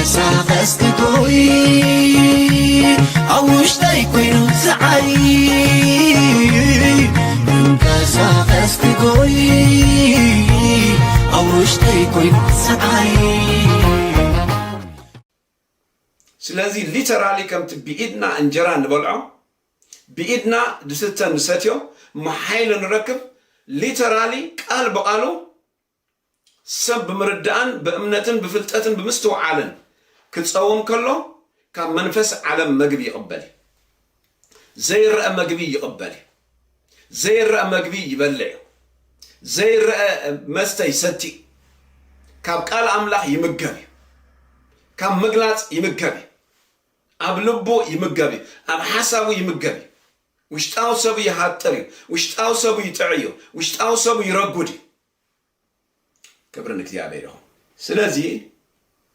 ክንቀሳቐስ ክቶይ ኣብ ውሽጠይ ኮይኑ ዝዓይ ክንቀሳቐስ ክጎይ ኣብ ውሽጠይ ኮይኑ ዝዓይ ስለዚ ሊተራሊ ከምቲ ብኢድና እንጀራ ንበልዖ ብኢድና ድስተ ንሰትዮ መሓይሎ ንረክብ ሊተራሊ ቃል ብቓሉ ሰብ ብምርዳእን ብእምነትን ብፍልጠትን ብምስትውዓልን ክጸውም ከሎ ካብ መንፈስ ዓለም መግቢ ይቕበል እዩ። ዘይረኣ መግቢ ይቕበል እዩ። ዘይረኣ መግቢ ይበልዕ እዩ። ዘይረኣ መስተ ይሰቲ እዩ። ካብ ቃል ኣምላኽ ይምገብ እዩ። ካብ ምግላጽ ይምገብ እዩ። ኣብ ልቡ ይምገብ እዩ። ኣብ ሓሳቡ ይምገብ እዩ። ውሽጣዊ ሰቡ ይሃጥር እዩ። ውሽጣዊ ሰቡ ይጥዕ እዩ። ውሽጣዊ ሰቡ ይረጉድ እዩ። ክብሪ ንእግዚኣብሔር ይኹን። ስለዚ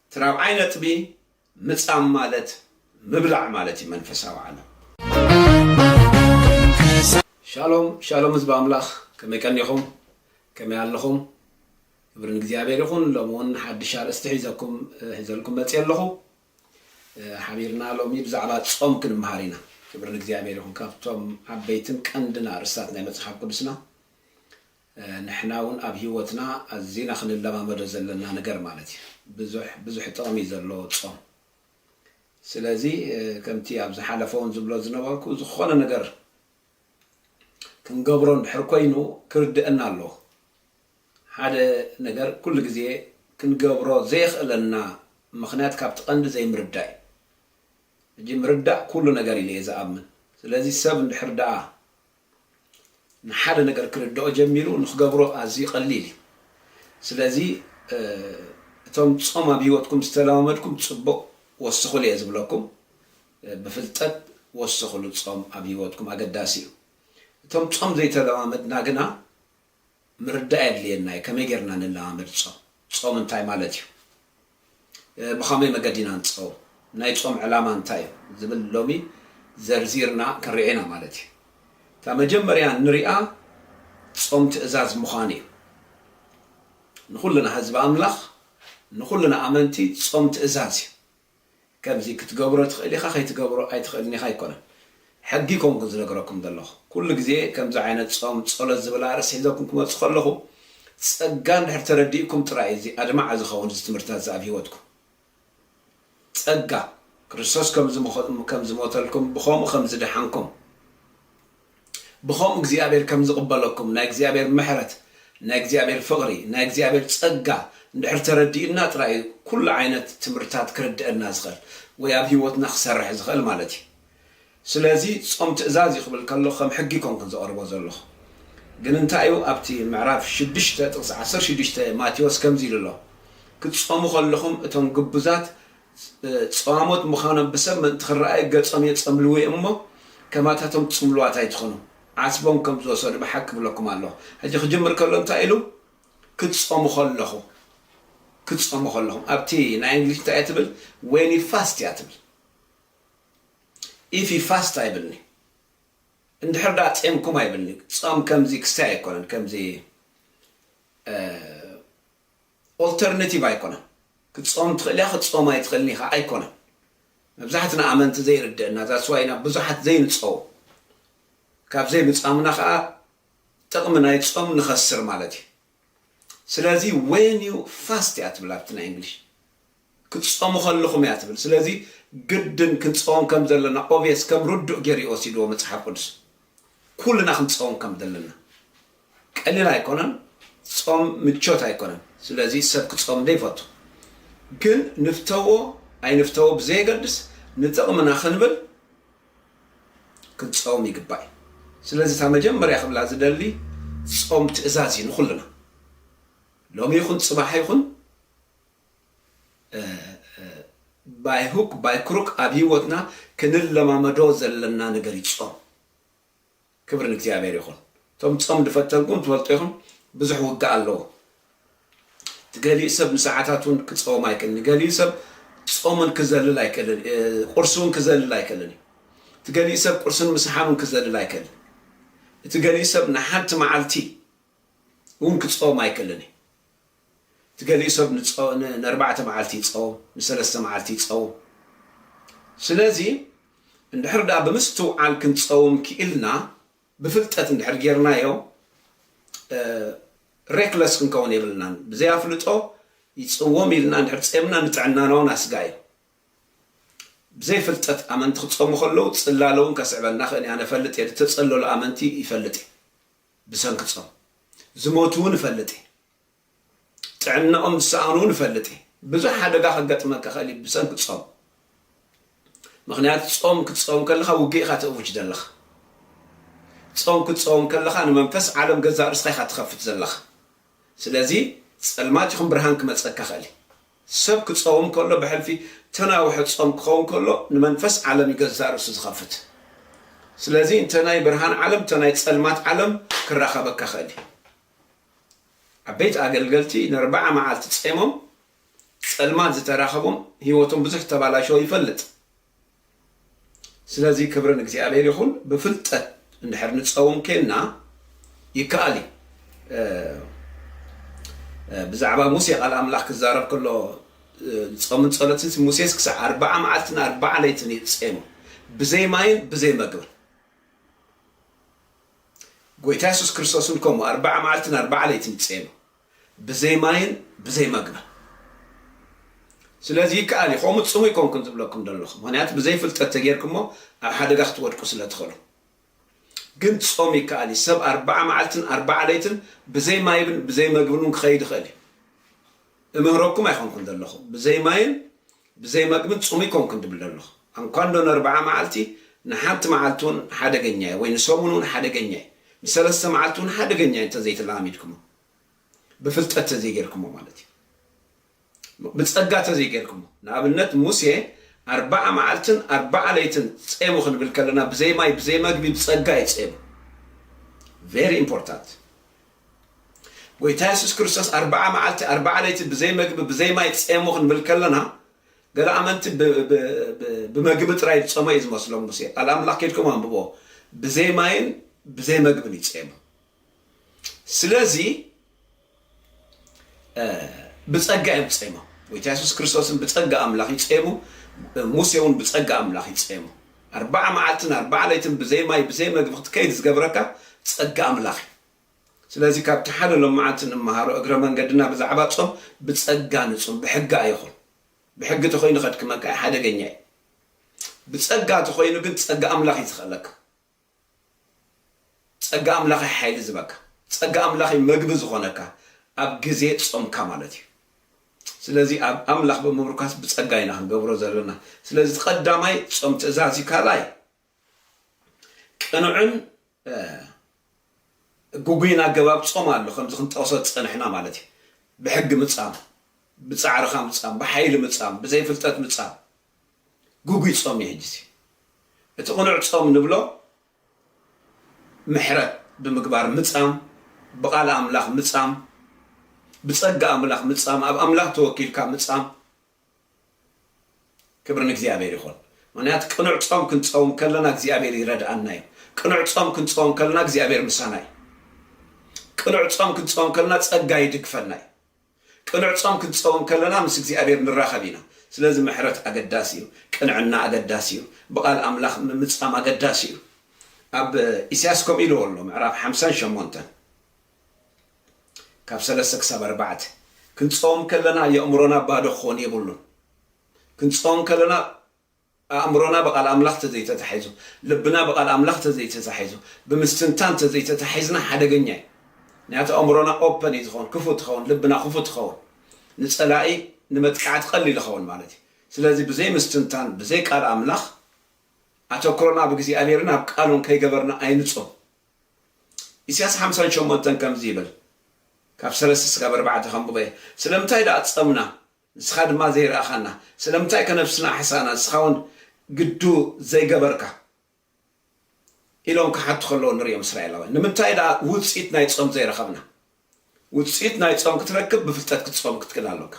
እቲ ራብዓይ ነጥቢ ምጻም ማለት ምብላዕ ማለት እዩ መንፈሳዊ ዓለም። ሻሎም ሻሎም ህዝቢ ኣምላኽ ከመይ ቀኒኹም ከመይ ኣለኹም ክብሪ ንእግዚኣብሔር ይኹን ሎሚ እውን ሓድሽ ኣርእስቲ ሒዘኩም ሒዘልኩም መፅየ ኣለኹ ሓቢርና ሎሚ ብዛዕባ ጾም ክንምሃር ኢና ክብሪ ንእግዚኣብሔር ይኹን ካብቶም ዓበይትን ቀንድን ኣርእስታት ናይ መፅሓፍ ቅዱስና ንሕና ውን ኣብ ሂወትና ኣዚና ክንለማመዶ ዘለና ነገር ማለት እዩ ብዙሕ ብዙሕ ጥቅሚ እዩ ዘለዎ ጾም ስለዚ ከምቲ ኣብ ዝሓለፈ ውን ዝብሎ ዝነበርኩ ዝኮነ ነገር ክንገብሮ እንድሕር ኮይኑ ክርደእና ኣለዎ ሓደ ነገር ኩሉ ግዜ ክንገብሮ ዘየኽእለና ምኽንያት ካብቲ ቀንዲ ዘይምርዳእ እዩ ሕጂ ምርዳእ ኩሉ ነገር ኢለ እየ ዝኣምን ስለዚ ሰብ እንድሕር ደኣ ንሓደ ነገር ክርድኦ ጀሚሩ ንክገብሮ ኣዝዩ ቀሊል እዩ ስለዚ እቶም ጾም ኣብ ሂወትኩም ዝተለማመድኩም ጽቡቅ ወስኽሉ እየ ዝብለኩም ብፍልጠት ወስኽሉ ጾም ኣብ ሂወትኩም ኣገዳሲ እዩ እቶም ጾም ዘይተለማመድና ግና ምርዳእ የድልየና እዩ ከመይ ጌርና ንለማመድ ጾም ጾም እንታይ ማለት እዩ ብኸመይ መገዲ ኢና ንጸውም ናይ ጾም ዕላማ እንታይ እዩ ዝብል ሎሚ ዘርዚርና ክንሪኢ ኢና ማለት እዩ እታ መጀመርያ ንሪኣ ጾም ትእዛዝ ምዃኑ እዩ ንኹልና ህዝቢ ኣምላኽ ንኹልና ኣመንቲ ጾም ትእዛዝ እዩ ከምዚ ክትገብሮ ትኽእል ኢኻ ከይትገብሮ ኣይትኽእልን ኢኻ ኣይኮነን ሕጊ ኮንኩ ዝነግረኩም ዘለኹ ኩሉ ግዜ ከምዚ ዓይነት ጾም ጸሎት ዝብል ኣርእስቲ ሒዘኩም ክመጽእ ከለኹ ጸጋ እንድሕር ተረዲእኩም ጥራይ እዩ እዚ ኣድማዒ ዝኸውን እዚ ትምህርትታት እዚ ኣብ ሂወትኩም ጸጋ ክርስቶስ ከም ዝሞተልኩም ብኸምኡ ከም ዝደሓንኩም ብከምኡ እግዚኣብሔር ከም ዝቅበለኩም ናይ እግዚኣብሔር ምሕረት ናይ እግዚኣብሔር ፍቅሪ ናይ እግዚኣብሔር ጸጋ እንድሕር ተረዲኡና ጥራይ እዩ ኩሉ ዓይነት ትምህርትታት ክርደኣና ዝክእል ወይ ኣብ ሂወትና ክሰርሕ ዝክእል ማለት እዩ ስለዚ ጾም ትእዛዝ እዩ ክብል ከሎ ከም ሕጊ ኮንኩን ዘቅርቦ ዘለኩ ግን እንታይ እዩ ኣብቲ ምዕራፍ ሽዱሽተ ጥቅሲ ዓሰርተ ሽዱሽተ ማቴዎስ ከምዚ ኢሉ ኣሎ ክትጾሙ ከለኩም እቶም ግቡዛት ጸዋሞት ምኻኖም ብሰብ ምእንቲ ክረኣዩ ገጾም የጸምልዉ ኢዮም እሞ ከማታቶም ጽምሉዋት ኣይትኹኑ ዓስቦም ከም ዝወሰዱ ብሓቂ እብለኩም ኣለኹ ሕጂ ክጅምር ከሎ እንታይ ኢሉ ክትጸሙ ከለኹ ክትጸሙ ከለኹም ኣብቲ ናይ እንግሊሽ እንታይ ኢያ ትብል ዌን ዩ ፋስት ኢያ ትብል ኢፍ ዩ ፋስት ኣይብልኒ እንድሕር ደኣ ጼምኩም ኣይብልኒ ጾም ከምዚ ክስታይ ኣይኮነን ከምዚ ኦልተርነቲቭ ኣይኮነን ክትጾም ትኽእል ኢኻ ክትጾም ኣይትኽእልን ኢኻ ኣይኮነን መብዛሕትና ኣመንቲ ዘይርደእና that's why ኢና ብዙሓት ዘይንጸውም ካብ ዘይምጻምና ከኣ ጥቕሚ ናይ ጾም ንኸስር ማለት እዩ ስለዚ when you fast እያ ትብል ኣብቲ ናይ እንግሊሽ ክትጸሙ ከለኹም እያ ትብል ስለዚ ግድን ክንጸወም ከም ዘለና ኦቭየስ ከም ርዱእ ጌሩ እዩ ወሲድዎ መጽሓፍ ቅዱስ ኩልና ክንጸወም ከም ዘለና ቀሊል ኣይኮነን ጾም ምቾት ኣይኮነን ስለዚ ሰብ ክጸም ዶ ይፈቱ ግን ንፍተዎ ኣይንፍተዎ ብዘየገድስ ንጥቕምና ክንብል ክንጸውም ይግባእ እዩ ስለዚ እታ መጀመርያ ክብላ ዝደሊ ጾም ትእዛዝ እዩ ንኹልና ሎሚ ይኹን ጽባሕ ይኹን ባይ ሁክ ባይ ክሩክ ኣብ ሂወትና ክንለማመዶ ዘለና ነገር እዩ ጾም ክብሪ ንእግዚኣብሔር ይኩን እቶም ጾም ድፈተንኩም ትፈልጡ ኢኩም ብዙሕ ውግእ ኣለዎ እቲ ገሊኡ ሰብ ንሰዓታት እውን ክጸወም ኣይክእልን እዩ ገሊኡ ሰብ ጾምን ክዘልል ኣይክእልን ቁርሲ እውን ክዘልል ኣይክእልን እዩ እቲ ገሊኡ ሰብ ቁርስን ምሳሓን እውን ክዘልል ኣይክእልን እቲ ገሊኡ ሰብ ንሓንቲ መዓልቲ እውን ክጸወም ኣይክእልን እዩ እቲ ገሊኡ ሰብ ንኣርባዕተ መዓልቲ ይጸውም፣ ንሰለስተ መዓልቲ ይጸውም። ስለዚ እንድሕር ደኣ ብምስትውዓል ክንጸውም ክኢልና ብፍልጠት እንድሕር ጌርናዮ Reckless ክንከውን የብልናን። ብዘይ ኣፍልጦ ይጽወም ኢልና እንድሕር ጸምና ንጥዕናና ውን ኣስጋኢ እዩ። ብዘይ ፍልጠት ኣመንቲ ክጸሙ ከለዉ ጽላለ ውን ከስዕበና ክእል እዩ። ኣነ እፈልጥ እየ፣ ዝተጸለሉ ኣመንቲ ይፈልጥ እየ። ብሰንኪ ጾም ዝሞቱ እውን እፈልጥ እየ። ጥዕናኦም ዝሰኣኑ እውን እፈልጥ እየ። ብዙሕ ሓደጋ ከገጥመካ ይኽእል እዩ ብሰንኪ ጾም። ምኽንያቱ ጾም ክትጸውም ከለኻ ውግእ ኢኻ ተእውጅ ዘለኻ። ጾም ክትጸውም ከለኻ ንመንፈስ ዓለም ገዛእ ርእስኻ ኢኻ ትኸፍት ዘለኻ። ስለዚ ጸልማት ይኹን ብርሃን ክመጸካ ይኽእል እዩ። ሰብ ክጸውም ከሎ ብሕልፊ ተናውሐ ጾም ክኸውን ከሎ ንመንፈስ ዓለም እዩ ገዛእ ርእሱ ዝኸፍት ስለዚ እንተ ናይ ብርሃን ዓለም እንተ ናይ ጸልማት ዓለም ክራኸበካ ክእል እዩ ዓበይቲ ኣገልገልቲ ንርብዓ መዓልቲ ጸሞም ጸልማት ዝተራኸቦም ህይወቶም ብዙሕ ተባላሸዎ ይፈልጥ ስለዚ ክብሪ ንእግዚኣብሔር ይኹን ብፍልጠት እንድሕር ንፀውም ኬንና ይከኣል እዩ ብዛዕባ ሙሴ ቃል ኣምላኽ ክዛረብ ከሎ ፆምን ፀሎትን ሙሴስ ክሳዕ ኣርባዓ መዓልትን ኣርባዓ ለይትን እዩ ፀሙ ብዘይ ማይን ብዘይ መግብን ጎይታ የሱስ ክርስቶስን ከምኡ ኣርባዓ መዓልትን ኣርባዓ ለይትን ፀሙ ብዘይ ማይን ብዘይ መግብን ስለዚ ይከኣል እዩ ከምኡ ጽሙ ኣይኮንኩን ዝብለኩም ዘለኹ ምክንያቱ ብዘይ ፍልጠት ተጌርኩሞ ኣብ ሓደጋ ክትወድቁ ስለ ትኽእሉ ግን ጾም ይከኣል እዩ ሰብ ኣርባዓ መዓልትን ኣርባዓ ለይትን ብዘይ ማይብን ብዘይ መግብን ክኸይድ ይኽእል እዩ እምህረኩም ኣይኮንኩን ዘለኹ ብዘይ ማይን ብዘይ መግቢ ጽሙይ ኮንኩ ድብል ደለኹ። ኣንኳንዶ ነርብዓ መዓልቲ ንሓንቲ መዓልቲ ውን ሓደገኛ እዩ ወይ ንሰሙን ውን ሓደገኛ እዩ ንሰለስተ መዓልቲ ውን ሓደገኛ እዩ እንተዘይተለማሚድክሞ ብፍልጠት ተዘይገርክሞ ማለት እዩ ብጸጋ ተዘይገርክሞ ንኣብነት ሙሴ ኣርብዓ መዓልትን ኣርብዓ ለይትን ጼሙ ክንብል ከለና ብዘይ ማይ ብዘይ መግቢ ብጸጋ እዩ ጼሙ very important ጎይታ የሱስ ክርስቶስ ኣርብዓ መዓልቲ ኣርብዓ ለይቲ ብዘይ መግቢ ብዘይ ማይ ጸሙ ክንብል ከለና ገለ ኣመንቲ ብመግቢ ጥራይ ዝጸመ እዩ ዝመስሎም ሙሴ ቃል ኣምላኽ ከድኩም ኣንብቦ ብዘይ ማይን ብዘይ መግብን እዩ ጸሙ ስለዚ ብጸጋ እዮም ጸሞም ጎይታ የሱስ ክርስቶስን ብጸጋ ኣምላኽ እዩ ጸሙ ሙሴ እውን ብጸጋ ኣምላኽ እዩ ጸሙ ኣርባዓ መዓልትን ኣርባዓ ለይትን ብዘይ ማይ ብዘይ መግቢ ክትከይድ ዝገብረካ ጸጋ ኣምላኽ እዩ ስለዚ ካብቲ ሓደ ሎምዓንቲ ንመሃሮ እግረ መንገድና ብዛዕባ ጾም ብጸጋ ንጹም ብሕጊ ኣይኹን ብሕጊ ተኾይኑ ከድክመካ እዩ ሓደገኛ እዩ ብጸጋ ተኾይኑ ግን ጸጋ ኣምላኽ እዩ ዝኸእለካ ጸጋ ኣምላኽ እዩ ሓይሊ ዝበካ ጸጋ ኣምላኽ እዩ መግቢ ዝኾነካ ኣብ ግዜ ጾምካ ማለት እዩ ስለዚ ኣብ ኣምላኽ ብምብርካስ ብጸጋ ኢና ክንገብሮ ዘለና ስለዚ ቀዳማይ ጾም ትእዛዝ እዩ ካልኣይ ቅኑዕን ግጉይን ኣገባብ ጾም ኣሎ፣ ከምዚ ክንጠቕሶ ዝጸንሕና ማለት እዩ። ብሕጊ ምጻም፣ ብጻዕርኻ ምጻም፣ ብሓይሊ ምጻም፣ ብዘይ ፍልጠት ምጻም ግጉይ ጾም እዩ። ሕጂሲ እቲ ቅኑዕ ጾም ንብሎ ምሕረት ብምግባር ምጻም፣ ብቃል ኣምላኽ ምጻም፣ ብጸጋ ኣምላኽ ምጻም፣ ኣብ ኣምላኽ ተወኪልካ ምጻም ክብሪ ንእግዚኣብሔር ይኹን ምኽንያቱ ቅኑዕ ጾም ክንጸውም ከለና እግዚኣብሔር ይረድኣና እዩ ቅኑዕ ጾም ክንጸውም ከለና እግዚኣብሔር ምሳና እዩ ቅኑዕ ጾም ክንጸውም ከለና ጸጋ ይድግፈና እዩ ቅኑዕ ጾም ክንጸውም ከለና ምስ እግዚኣብሔር ንራኸብ ኢና ስለዚ ምሕረት ኣገዳሲ እዩ ቅንዕና ኣገዳሲ እዩ ብቓል ኣምላኽ ምምጻም ኣገዳሲ እዩ ኣብ ኢሳያስ ከምኡ ኢልዎ ኣሎ ምዕራፍ ሓምሳን ሸሞንተን ካብ ሰለስተ ክሳብ ኣርባዕተ። ክንጾም ከለና የእምሮና ባዶ ክኾን የብሉን። ክንጾም ከለና ኣእምሮና ብቃል ኣምላኽ ተዘይተታሒዙ፣ ልብና ብቃል ኣምላኽ ተዘይተታሒዙ፣ ብምስትንታን ተዘይተታሒዝና ሓደገኛ እዩ። ምክንያቱ ኣእምሮና ኦፐን እዩ ዝኸውን፣ ክፉት ይኸውን፣ ልብና ክፉት ይኸውን። ንጸላኢ ንመጥቃዕቲ ቀሊል ይኸውን ማለት እዩ። ስለዚ ብዘይ ምስትንታን ብዘይ ቃል ኣምላኽ ኣተኩሮና ኣብ እግዚኣብሔርን ኣብ ቃሉን ከይገበርና ኣይንጾም። ኢሲያስ ሓምሳን ሸሞንተን ከምዚ ይብል ካብ ሰለስተ ስጋብ ኣርባዕተ ከንብቦ እየ ስለምንታይ ደኣ ጸምና ንስኻ ድማ ዘይረኣኻና ስለምንታይ ከ ነብስና ኣሕሳእና ንስኻ ውን ግዱ ዘይገበርካ ኢሎም ክሓቱ ከለዉ ንርእዮም እስራኤላውያን ንምንታይ ደኣ ውጽኢት ናይ ጾም ዘይረኸብና ውጽኢት ናይ ጾም ክትረክብ ብፍልጠት ክትጾም ክትክእል ኣሎካ።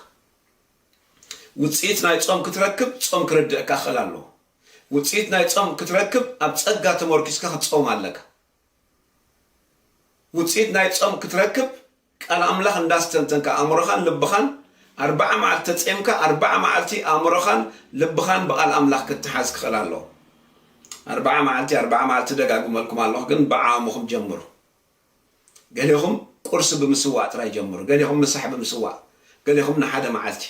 ውጽኢት ናይ ጾም ክትረክብ ጾም ክርድእካ ክኽእል ኣሎዎ። ውጽኢት ናይ ጾም ክትረክብ ኣብ ጸጋ ተሞርኪስካ ክትጸውም ኣለካ። ውጽኢት ናይ ጾም ክትረክብ ቃል ኣምላኽ እንዳስተንተንካ ኣእምሮኻን ልብኻን ኣርብዓ መዓልቲ ተጼምካ ኣርብዓ መዓልቲ ኣእምሮኻን ልብኻን ብቓል ኣምላኽ ክትሓዝ ክኽእል ኣሎዎ። ኣርብዓ መዓልቲ ኣርብዓ መዓልቲ ደጋግመልኩም ኣሎኹ ግን ብዓሙኹም ጀምሩ። ገሌኹም ቁርሲ ብምስዋእ ጥራይ ጀምሩ፣ ገሌኹም ምሳሕ ብምስዋእ፣ ገሌኹም ንሓደ መዓልቲ፣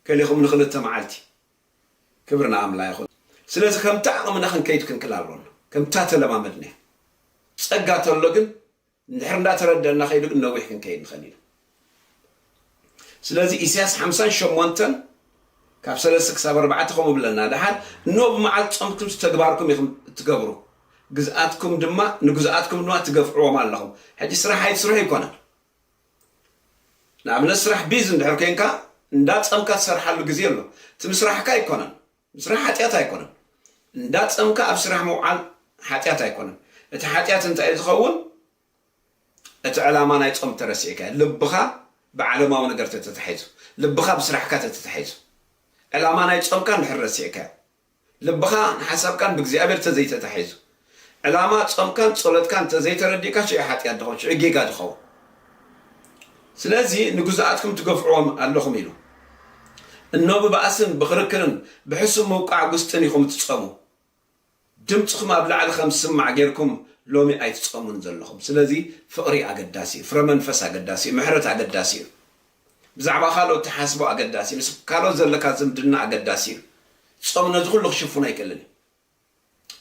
ገሌኹም ንኽልተ መዓልቲ። ክብሪ ንኣምላ ይኹን። ስለዚ ከምቲ ዓቕምና ክንከይድ ክንክል ኣሎና። ከምታ ተለማመድናያ። ጸጋ ተሎ ግን እንድሕር እንዳተረደእና ከይዱ ግን ነዊሕ ክንከይድ ንኸእል ኢና። ስለዚ ኢሲያስ ሓምሳን ሸሞንተን ካብ ሰለስተ ክሳብ ኣርባዕተ ከምኡ ብለና ደሓር እኖ ብመዓልቲ ጾምኩምስ ተግባርኩም ኢኹም እትገብሩ ግዝኣትኩም ድማ ንግዙኣትኩም ድማ ትገፍዕዎም ኣለኹም ሕጂ ስራሕ ኣይትስርሑ ኣይኮነን ንኣብነት ስራሕ ቢዝ እንድሕር ኮንካ እንዳ ጸምካ ትሰርሓሉ ግዜ ኣሎ እቲ ምስራሕካ ኣይኮነን ምስራሕ ሓጢኣት ኣይኮነን እንዳ ጸምካ ኣብ ስራሕ ምውዓል ሓጢኣት ኣይኮነን እቲ ሓጢኣት እንታይ እዩ ዝኸውን እቲ ዕላማ ናይ ጾም ተረሲዕካዮ ልብኻ ብዓለማዊ ነገር ተተታሒዙ ልብኻ ብስራሕካ ተተታሒዙ ዕላማ ናይ ጾምካ እንድሕር ረሲዕካዮ ልብኻ ንሓሳብካን ብእግዚኣብሔር ተዘይተታሒዙ ዕላማ ጾምካን ጸሎትካን ተዘይተረዲእካ ሽዑ ሓጢኣት ድኸውን ሽዑ ጌጋ ድኸውን ስለዚ ንግዙኣትኩም ትገፍዕዎም ኣለኹም ኢሉ እኖ ብባእስን ብኽርክርን ብሕሱም ምውቃዕ ጉስጥን ኢኹም እትጸሙ ድምጽኹም ኣብ ላዕሊ ከም ዝስማዕ ጌርኩም ሎሚ ኣይትጸሙን ዘለኹም ስለዚ ፍቅሪ ኣገዳሲ እዩ ፍረ መንፈስ ኣገዳሲ እዩ ምሕረት ኣገዳሲ እዩ ብዛዕባ ካልኦት ትሓስቦ ኣገዳሲ ምስ ካልኦት ዘለካ ዝምድና ኣገዳሲ እዩ ጾም ነዚ ኩሉ ክሽፍኖ ኣይክእልን እዩ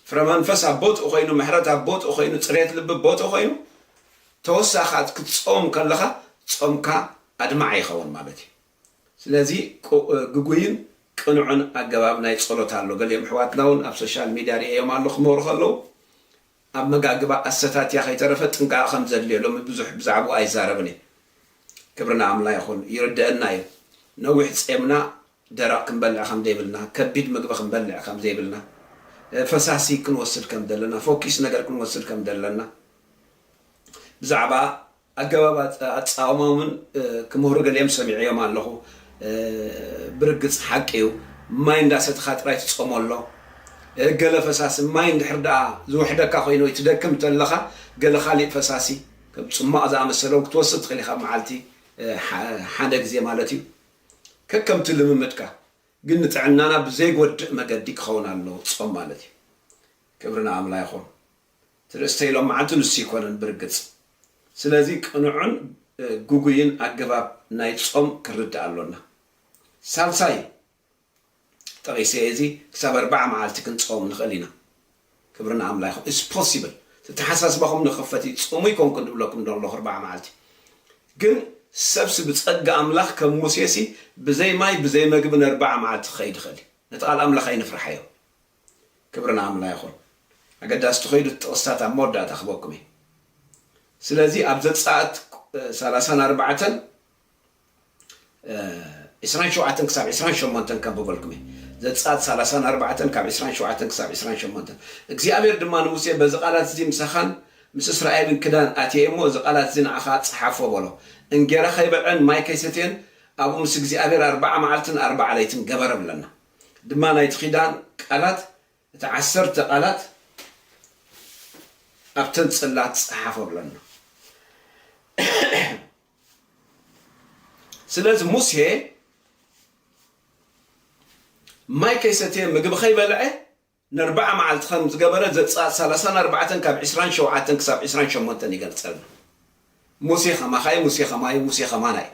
ፍረ መንፈስ ኣብ ቦትኡ ኮይኑ ምሕረት ኣብ ቦትኡ ኮይኑ ጽሬት ልቢ ቦትኡ ኮይኑ ተወሳኺ ክትጾም ከለኻ ጾምካ ኣድማዒ ይኸውን ማለት እዩ ስለዚ ግጉይን ቅኑዕን ኣገባብ ናይ ጸሎት ኣሎ። ገሊኦም ኣሕዋትና ውን ኣብ ሶሻል ሚድያ ሪኤዮም ኣሎ ክመሩ ከለዉ ኣመጋግባ ኣሰታትያ ከይተረፈ ጥንቃቀ ከም ዘድልዮ ሎሚ ብዙሕ ብዛዕብኡ ኣይዛረብን እየ ክብሪ ንኣምላ ይኹን ይርደእና እዩ ነዊሕ ጼምና ደረቅ ክንበልዕ ከም ዘይብልና ከቢድ ምግቢ ክንበልዕ ከም ዘይብልና ፈሳሲ ክንወስድ ከም ዘለና ፎኪስ ነገር ክንወስድ ከም ዘለና ብዛዕባ ኣገባብ ኣጻኦሞምን ክምህሩ ገሊኦም ሰሚዐዮም ኣለኹ ብርግጽ ሓቂ እዩ ማይ እንዳ ሰትኻ ጥራይ ትጾሞ ኣሎ ገለ ፈሳሲ ማይ እንድሕር ደኣ ዝውሕደካ ኮይኑ ወይ ትደክም እንተለኻ ገለ ካሊእ ፈሳሲ ከም ጽሟቕ ዝኣመሰለውን ክትወስድ ትኽእል ኢኻ ኣብ መዓልቲ ሓደ ግዜ ማለት እዩ ከከምቲ ልምምድካ ግን ንጥዕናና ብዘይጎድእ መገዲ ክኸውን ኣለዎ ጾም ማለት እዩ ክብሪ ንኣምላ ይኹን እቲ ርእስተይ ሎማዓንቲ ንሱ ኣይኮነን ብርግጽ ስለዚ ቅኑዕን ግጉይን ኣገባብ ናይ ጾም ክንርዳእ ኣሎና ሳልሳይ ጠቂሰ እየ እዚ ክሳብ ኣርባዓ ማዓልቲ ክንጸወም ንክእል ኢና ክብሪ ንኣምላይ ይኩን it's possible እቲ ኣተሓሳስባኩም ንክፈት እዩ ጽሙ ኣይኮንኩን ድብለኩም ደለኩ ኣርባዓ ማዓልቲ ግን ሰብሲ ብጸጋ ኣምላክ ከም ሙሴሲ ብዘይ ማይ ብዘይ መግቢ ነርባዓ ማዓልቲ ክከይድ ይክእል እዩ ነቲ ቃል ኣምላክ ኣይንፍርሓዮ ክብሪ ንኣምላ ይኹን ኣገዳሲ ትኸይዱ እቲ ጥቕስታት ኣብ መወዳእታ ክበኩም እየ ስለዚ ኣብ ዘጻእት ሰላሳን ኣርባዕተን ዕስራን ሸውዓተን ክሳብ ዕስራን ሸሞንተን ከንብበልኩም እየ ዘጻእት ሰላሳን ኣርባዕተን ካብ ዕስራን ሸውዓተን ክሳብ ዕስራን ሸሞንተን እግዚኣብሔር ድማ ንሙሴ በዚ ቃላት እዚ ምሳኻን ምስ እስራኤልን ክዳን ኣትየ እሞ እዚ ቃላት እዚ ንዓኻ ጸሓፎ በሎ እንጌራ ከይበልዐን ማይ ከይሰትየን ኣብኡ ምስ እግዚኣብሔር ኣርባዓ መዓልትን ኣርባዓ ለይትን ገበረ ብለና ድማ ናይቲ ኪዳን ቃላት እቲ ዓሰርተ ቃላት ኣብተን ጽላት ጸሓፎ ብለና። ስለዚ ሙሴ ማይ ከይሰተየ ምግቢ ከይበልዐ ነርብዓ መዓልቲ ከም ዝገበረ ዘጽኣት ሰላሳን ኣርባዕተን ካብ ዕስራን ሸውዓተን ክሳብ ዕስራን ሸሞንተን ይገልጸልና። ሙሴ ከማኻ እዩ፣ ሙሴ ከማይ እዩ፣ ሙሴ ከማና እዩ።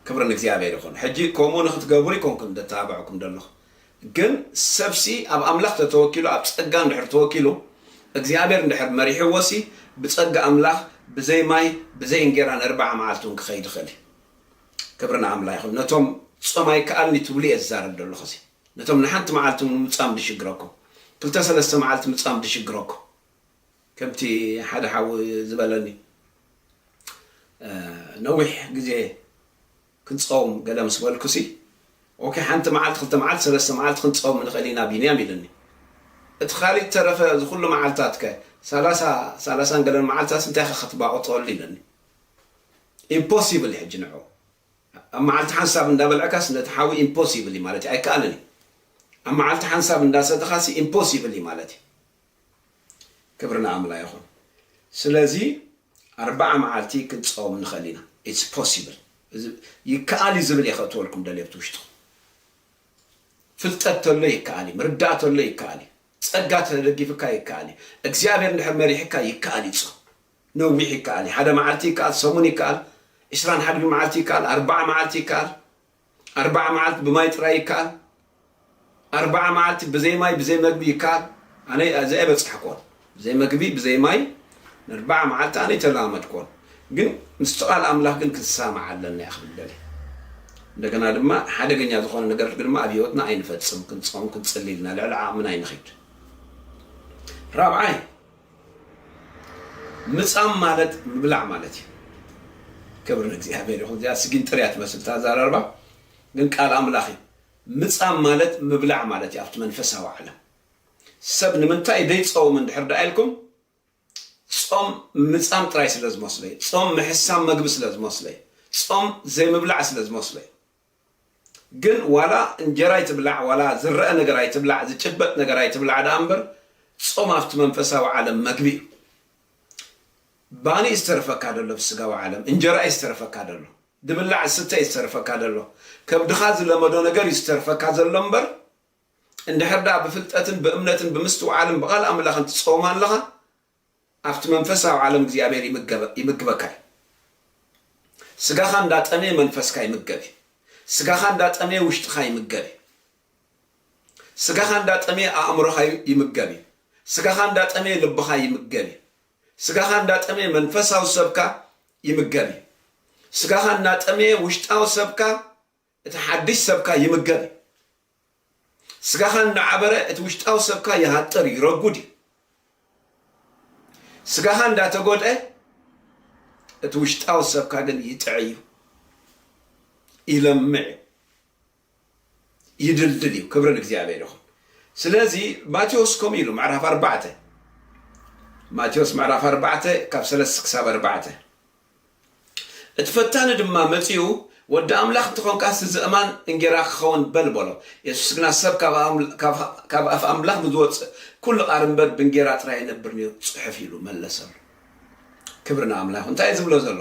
ክብሪ ንእግዚኣብሔር ይኹን። ሕጂ ከምኡ ንኽትገብሩ ኣይኮንኩን ዘተባብዐኩም ዘለኹ፣ ግን ሰብሲ ኣብ ኣምላኽ ተተወኪሉ ኣብ ጸጋ እንድሕር ተወኪሉ እግዚኣብሔር እንድሕር መሪሕዎሲ ብጸጋ ኣምላኽ ብዘይ ማይ ብዘይ እንጌራ ነርብዓ መዓልቲ እውን ክኸይድ ይኽእል እዩ። ክብሪ ንኣምላ ይኹን። ነቶም ጾም ኣይከኣልን'ዩ ትብሉ እየ ዝዛረብ ዘለኹ እዚ። ነቶም ንሓንቲ መዓልቲ ሙሉ ምጻም ድሽግረኩም ክልተ ሰለስተ መዓልቲ ምጻም ድሽግረኩም ከምቲ ሓደ ሓው ዝበለኒ ነዊሕ ግዜ ክንጸውም ገለ ምስ በልኩሲ ኦኬ ሓንቲ መዓልቲ ክልተ መዓልቲ ሰለስተ መዓልቲ ክንጸውም ንኽእል ኢና ቢንያም ኢሉኒ እቲ ካሊእ ተረፈ እዚ ኩሉ መዓልታት ከ ሰላሳ ሰላሳን ገለን መዓልታትስ እንታይከ ክትባቕጠሉ ኢሉኒ ኢምፖሲብል ሕጂ ንዑ ኣብ መዓልቲ ሓንሳብ እንዳ በልዕካስ ነቲ ሓዊ ኢምፖሲብል እዩ ማለት እዩ ኣይከኣልን እዩ ኣብ መዓልቲ ሓንሳብ እንዳ ሰተኻሲ ኢምፖሲብል እዩ ማለት እዩ ክብሪ ንኣምላ ይኹን ስለዚ ኣርብዓ መዓልቲ ክንጸውም ንኽእል ኢና ኢትስ ፖሲብል ይከኣል እዩ ዝብል እየ ከእትወልኩም ደልየ ብቲ ውሽጥኹም ፍልጠት ተሎ ይከኣል እዩ ምርዳእ ተሎ ይከኣል እዩ ጸጋ ተደጊፍካ ይከኣል እዩ እግዚኣብሔር እንድሕር መሪሕካ ይከኣል እዩ ጾም ነዊሕ ይከኣል እዩ ሓደ መዓልቲ ይከኣል ሰሙን ይከኣል ዕስራን ሓድን መዓልቲ ይከኣል ኣርብዓ መዓልቲ ይከኣል ኣርብዓ መዓልቲ ብማይ ጥራይ ይከኣል ኣርብዓ መዓልቲ ብዘይ ማይ ብዘይ መግቢ ይከኣል ኣነ እዚ ኣይበጻሕክዎን ብዘይ መግቢ ብዘይ ማይ ንኣርብዓ መዓልቲ ኣነ ኣይተለማመድክዎን ግን ምስቲ ቃል ኣምላኽ ግን ክንሰማማዕ ኣለና እየ ክብል ደልየ እንደገና ድማ ሓደገኛ ዝኾነ ነገር ድማ ኣብ ህይወትና ኣይንፈጽም ክንጾም ክንጽሊ ኢልና ልዕሊ ዓቕምና ኣይንኺድ ራብዓይ ምጻም ማለት ምብላዕ ማለት እዩ። ክብሪ ንእግዚኣብሔር ይኹን። እዚኣ ስጊንጥር እያ ትመስል እቲ ኣዘራርባ፣ ግን ቃል ኣምላኽ እዩ። ምጻም ማለት ምብላዕ ማለት እዩ ኣብቲ መንፈሳዊ ዓለም። ሰብ ንምንታይ ዘይጸውም እንድሕር ደኣ ኢልኩም፣ ጾም ምጻም ጥራይ ስለ ዝመስሎ እዩ። ጾም ምሕሳም መግቢ ስለ ዝመስሎ እዩ። ጾም ዘይምብላዕ ስለ ዝመስሎ እዩ። ግን ዋላ እንጀራ ኣይትብላዕ ዋላ ዝረኣ ነገር ኣይትብላዕ ዝጭበጥ ነገር ኣይትብላዕ ደኣ እምበር ጾም ኣብቲ መንፈሳዊ ዓለም መግቢ እዩ። ባኒ እዩ ዝተርፈካ ዘሎ ኣብቲ ስጋዊ ዓለም እንጀራ እዩ ዝተርፈካ ዘሎ ዝብላዕ ዝስተ እዩ ዝተርፈካ ዘሎ ከብድኻ ዝለመዶ ነገር እዩ ዝተርፈካ ዘሎ እምበር እንድሕር ደኣ ብፍልጠትን ብእምነትን ብምስትውዓልን ብቃል ኣምላኽን ትጾም ኣለኻ ኣብቲ መንፈሳዊ ዓለም እግዚኣብሔር ይምገበ ይምግበካ እዩ። ስጋኻ እንዳ ጠመየ መንፈስካ ይምገብ እዩ። ስጋኻ እንዳ ጠመየ ውሽጥኻ ይምገብ እዩ። ስጋኻ እንዳ ጠመየ ኣእምሮኻ ዩ- ይምገብ እዩ። ስጋኻ እንዳ ጠመየ ልብኻ ይምገብ እዩ። ስጋኻ እንዳ ጠመየ መንፈሳዊ ሰብካ ይምገብ እዩ። ስጋኻ እናጠመየ ውሽጣዊ ሰብካ እቲ ሓድሽ ሰብካ ይምገብ እዩ። ስጋኻ እንዳዓበረ እቲ ውሽጣዊ ሰብካ ይሃጥር እዩ፣ ይረጉድ እዩ። ስጋኻ እንዳተጎድኣ እቲ ውሽጣዊ ሰብካ ግን ይጥዕ እዩ፣ ይለምዕ እዩ፣ ይድልድል እዩ። ክብሪ ንእግዚኣብሔር ይኹን። ስለዚ ማቴዎስ ከምኡ ኢሉ ምዕራፍ ኣርባዕተ ማቴዎስ ምዕራፍ ኣርባዕተ ካብ ሰለስተ ክሳብ ኣርባዕተ እቲ ፈታኒ ድማ መጺኡ፣ ወዲ ኣምላኽ እንተ ዀንካስ፣ እዚ እማን እንጌራ ኪኸውን በል፣ በሎ። የሱስ ግና፣ ሰብ ካብ ኣፍ ኣምላኽ ብዚወጽእ ኵሉ ቓል እምበር፣ ብእንጌራ ጥራይ ኣይነብርን እዩ ጽሑፍ፣ ኢሉ መለሰሉ። ክብሪ ንኣምላኽ ይኹን። እንታይ እዩ ዚብሎ ዘሎ?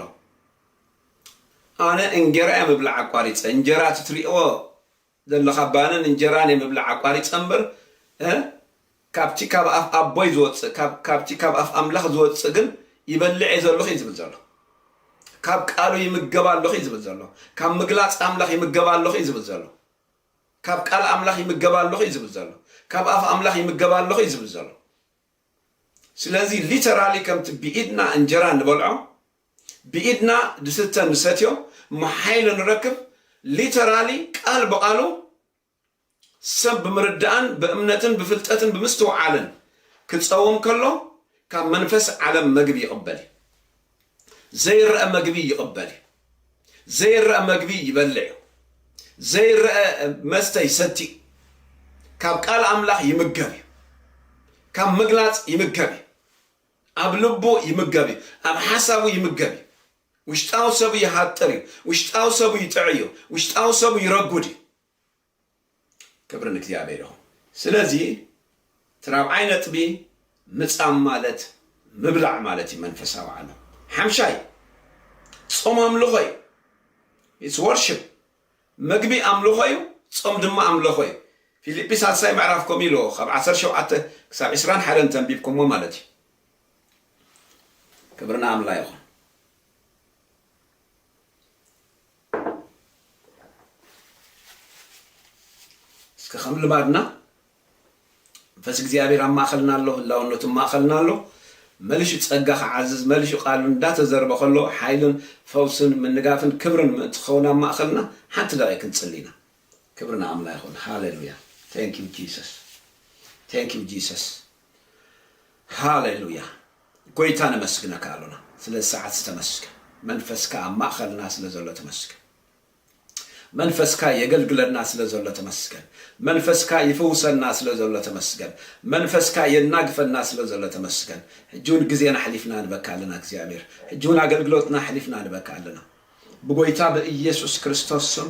ኣነ እንጌራ እየ ምብላዕ ኣቋሪጸ፣ እንጀራ እቲ እትርእይዎ ዘለኻ ባንን እንጀራ ናይ ምብላዕ ኣቋሪጸ እምበር እ ካብቲ ካብ ኣፍ ኣቦይ ዝወጽእ ካብ ካብቲ ካብ ኣፍ ኣምላኽ ዝወጽእ ግን ይበልዕ እየ ዘለኹ እዩ ዝብል ዘሎ ካብ ቃሉ ይምገብ ኣለኹ እዩ ዝብል ዘሎ ካብ ምግላጽ ኣምላኽ ይምገብ ኣለኹ እዩ ዝብል ዘሎ ካብ ቃል ኣምላኽ ይምገብ ኣለኹ እዩ ዝብል ዘሎ ካብ ኣፍ ኣምላኽ ይምገብ ኣለኹ እዩ ዝብል ዘሎ ስለዚ ሊተራሊ ከምቲ ብኢድና እንጀራ ንበልዖ ብኢድና ድስተ ንሰትዮ መሓይሎ ንረክብ ሊተራሊ ቃል ብቓሉ ሰብ ብምርዳእን ብእምነትን ብፍልጠትን ብምስትውዓልን ክጸውም ከሎ ካብ መንፈስ ዓለም መግቢ ይቕበል እዩ ዘይረኣ መግቢ ይቕበል እዩ ዘይረኣ መግቢ ይበልዕ እዩ ዘይረኣ መስተ ይሰቲ እዩ ካብ ቃል ኣምላኽ ይምገብ እዩ ካብ ምግላጽ ይምገብ እዩ ኣብ ልቡ ይምገብ እዩ፣ ኣብ ሓሳቡ ይምገብ እዩ፣ ውሽጣዊ ሰቡ ይሃጥር እዩ፣ ውሽጣዊ ሰቡ ይጥዕይ እዩ፣ ውሽጣዊ ሰቡ ይረጉድ እዩ። ክብሪ ንእግዚኣብሔር ይኹን። ስለዚ እቲ ራብዓይ ነጥቢ ምጻም ማለት ምብላዕ ማለት እዩ መንፈሳዊ ዓለም። ሓምሻይ ጾም ኣምልኾ እዩ። It's worship። መግቢ ኣምልኾ እዩ፣ ጾም ድማ ኣምለኾ እዩ። ፊሊጲ ሳልሳይ ምዕራፍ ከምኡ ኢልዎ ካብ ዓሰርተ ሸውዓተ ክሳብ ዕስራን ሓደን እንተንቢብኩምዎ ማለት እዩ። ክብሪ ንኣምላ ይኹን። እስከ ከም ልማድና መንፈስ እግዚኣብሔር ኣብ ማእኸልና ኣሎ፣ ህላውነቱ ኣብ ማእኸልና ኣሎ፣ መልሹ ፀጋ ክዓዝዝ፣ መልሹ ቃሉ እንዳተዘርበ ከሎ ሓይልን ፈውስን ምንጋፍን ክብርን ምእንቲ ክኸውን ኣብ ማእኸልና ሓንቲ ደቂቅ ክንፅሊ ኢና። ክብሪ ንኣምላ ይኹን ሃሌሉያ thank you Jesus thank you Jesus ሃሌሉያ ጎይታ ነመስግነካ ኣሎና ስለዚ ሰዓት ተመስገን መንፈስካ ኣብ ማእኸልና ስለ ዘሎ ተመስገን መንፈስካ የገልግለና ስለ ዘሎ ተመስገን መንፈስካ ይፍውሰና ስለ ዘሎ ተመስገን መንፈስካ የናግፈና ስለ ዘሎ ተመስገን ሕጂ ውን ግዜና ኣሕሊፍና ንበካ ኣለና እግዚኣብሔር ሕጂ ውን ኣገልግሎትና ኣሕሊፍና ንበካ ኣለና ብጎይታ ብኢየሱስ ክርስቶስ ስም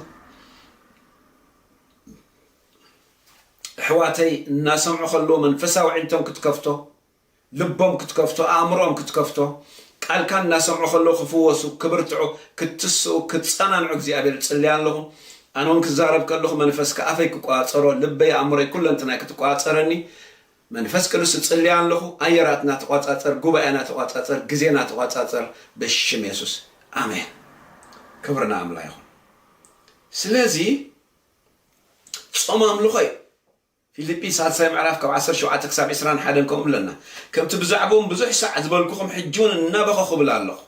ኣሕዋተይ እናሰምዑ ከለዎ መንፈሳዊ ዕንቶም ክትከፍቶ ልቦም ክትከፍቶ ኣእምሮኦም ክትከፍቶ ቃልካ እናሰምዑ ከለዉ ክፍወሱ ክብርትዑ ክትስኡ ክጸናንዑ እግዚኣብሔር እጽልይ ኣለኹ ኣነ ውን ክዛረብ ከለኹ መንፈስካ ኣፈይ ክቆጻጸሮ ልበይ ኣእምሮይ ኩለንትናይ ክትቆጻጸረኒ መንፈስ ቅዱስ እጽልይ ኣለኹ ኣየራትና ተቆጻጸር ጉባኤና ተቆጻጸር ግዜና ተቆጻጸር በሽም የሱስ ኣሜን ክብሪ ንኣምላ ይኹን ስለዚ ጾም ኣምልኾ እዩ ፊልጲ ሳልሳይ ምዕራፍ ካብ ዓሰርተ ሸውዓተ ክሳብ ዕስራን ሓደን ከምኡ ብለና። ከምቲ ብዛዕብኦም ብዙሕ ሳዕ ዝበልኩኹም ሕጂውን እናበኸኹ እብል ኣሎኹ።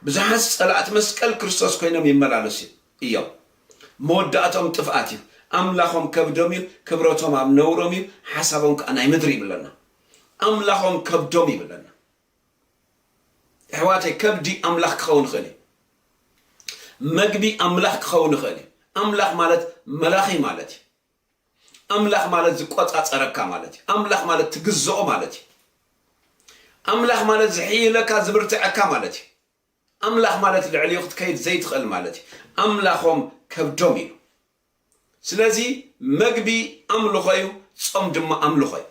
ብዙሓት ጸላእቲ መስቀል ክርስቶስ ኮይኖም ይመላለሱ እዮም። መወዳእትኦም ጥፍኣት እዩ። ኣምላኾም ከብዶም እዩ፣ ክብረቶም ኣብ ነውሮም እዩ፣ ሓሳቦም ከኣ ናይ ምድሪ እዩ ብለና። ኣምላኾም ከብዶም እዩ ብለና። ኣሕዋተይ ከብዲ ኣምላኽ ክኸውን ይኽእል እዩ። መግቢ ኣምላኽ ክኸውን ይኽእል እዩ። ኣምላኽ ማለት መላኺ ማለት እዩ። ኣምላኽ ማለት ዝቆጻጸረካ ማለት እዩ። ኣምላኽ ማለት ትግዝኦ ማለት እዩ። ኣምላኽ ማለት ዝሕይለካ ዝብርትዐካ ማለት እዩ። ኣምላኽ ማለት ልዕሊኡ ክትከይድ ዘይትኽእል ማለት እዩ። ኣምላኾም ከብዶም ኢሉ። ስለዚ መግቢ ኣምልኾ እዩ፣ ጾም ድማ ኣምልኾ እዩ።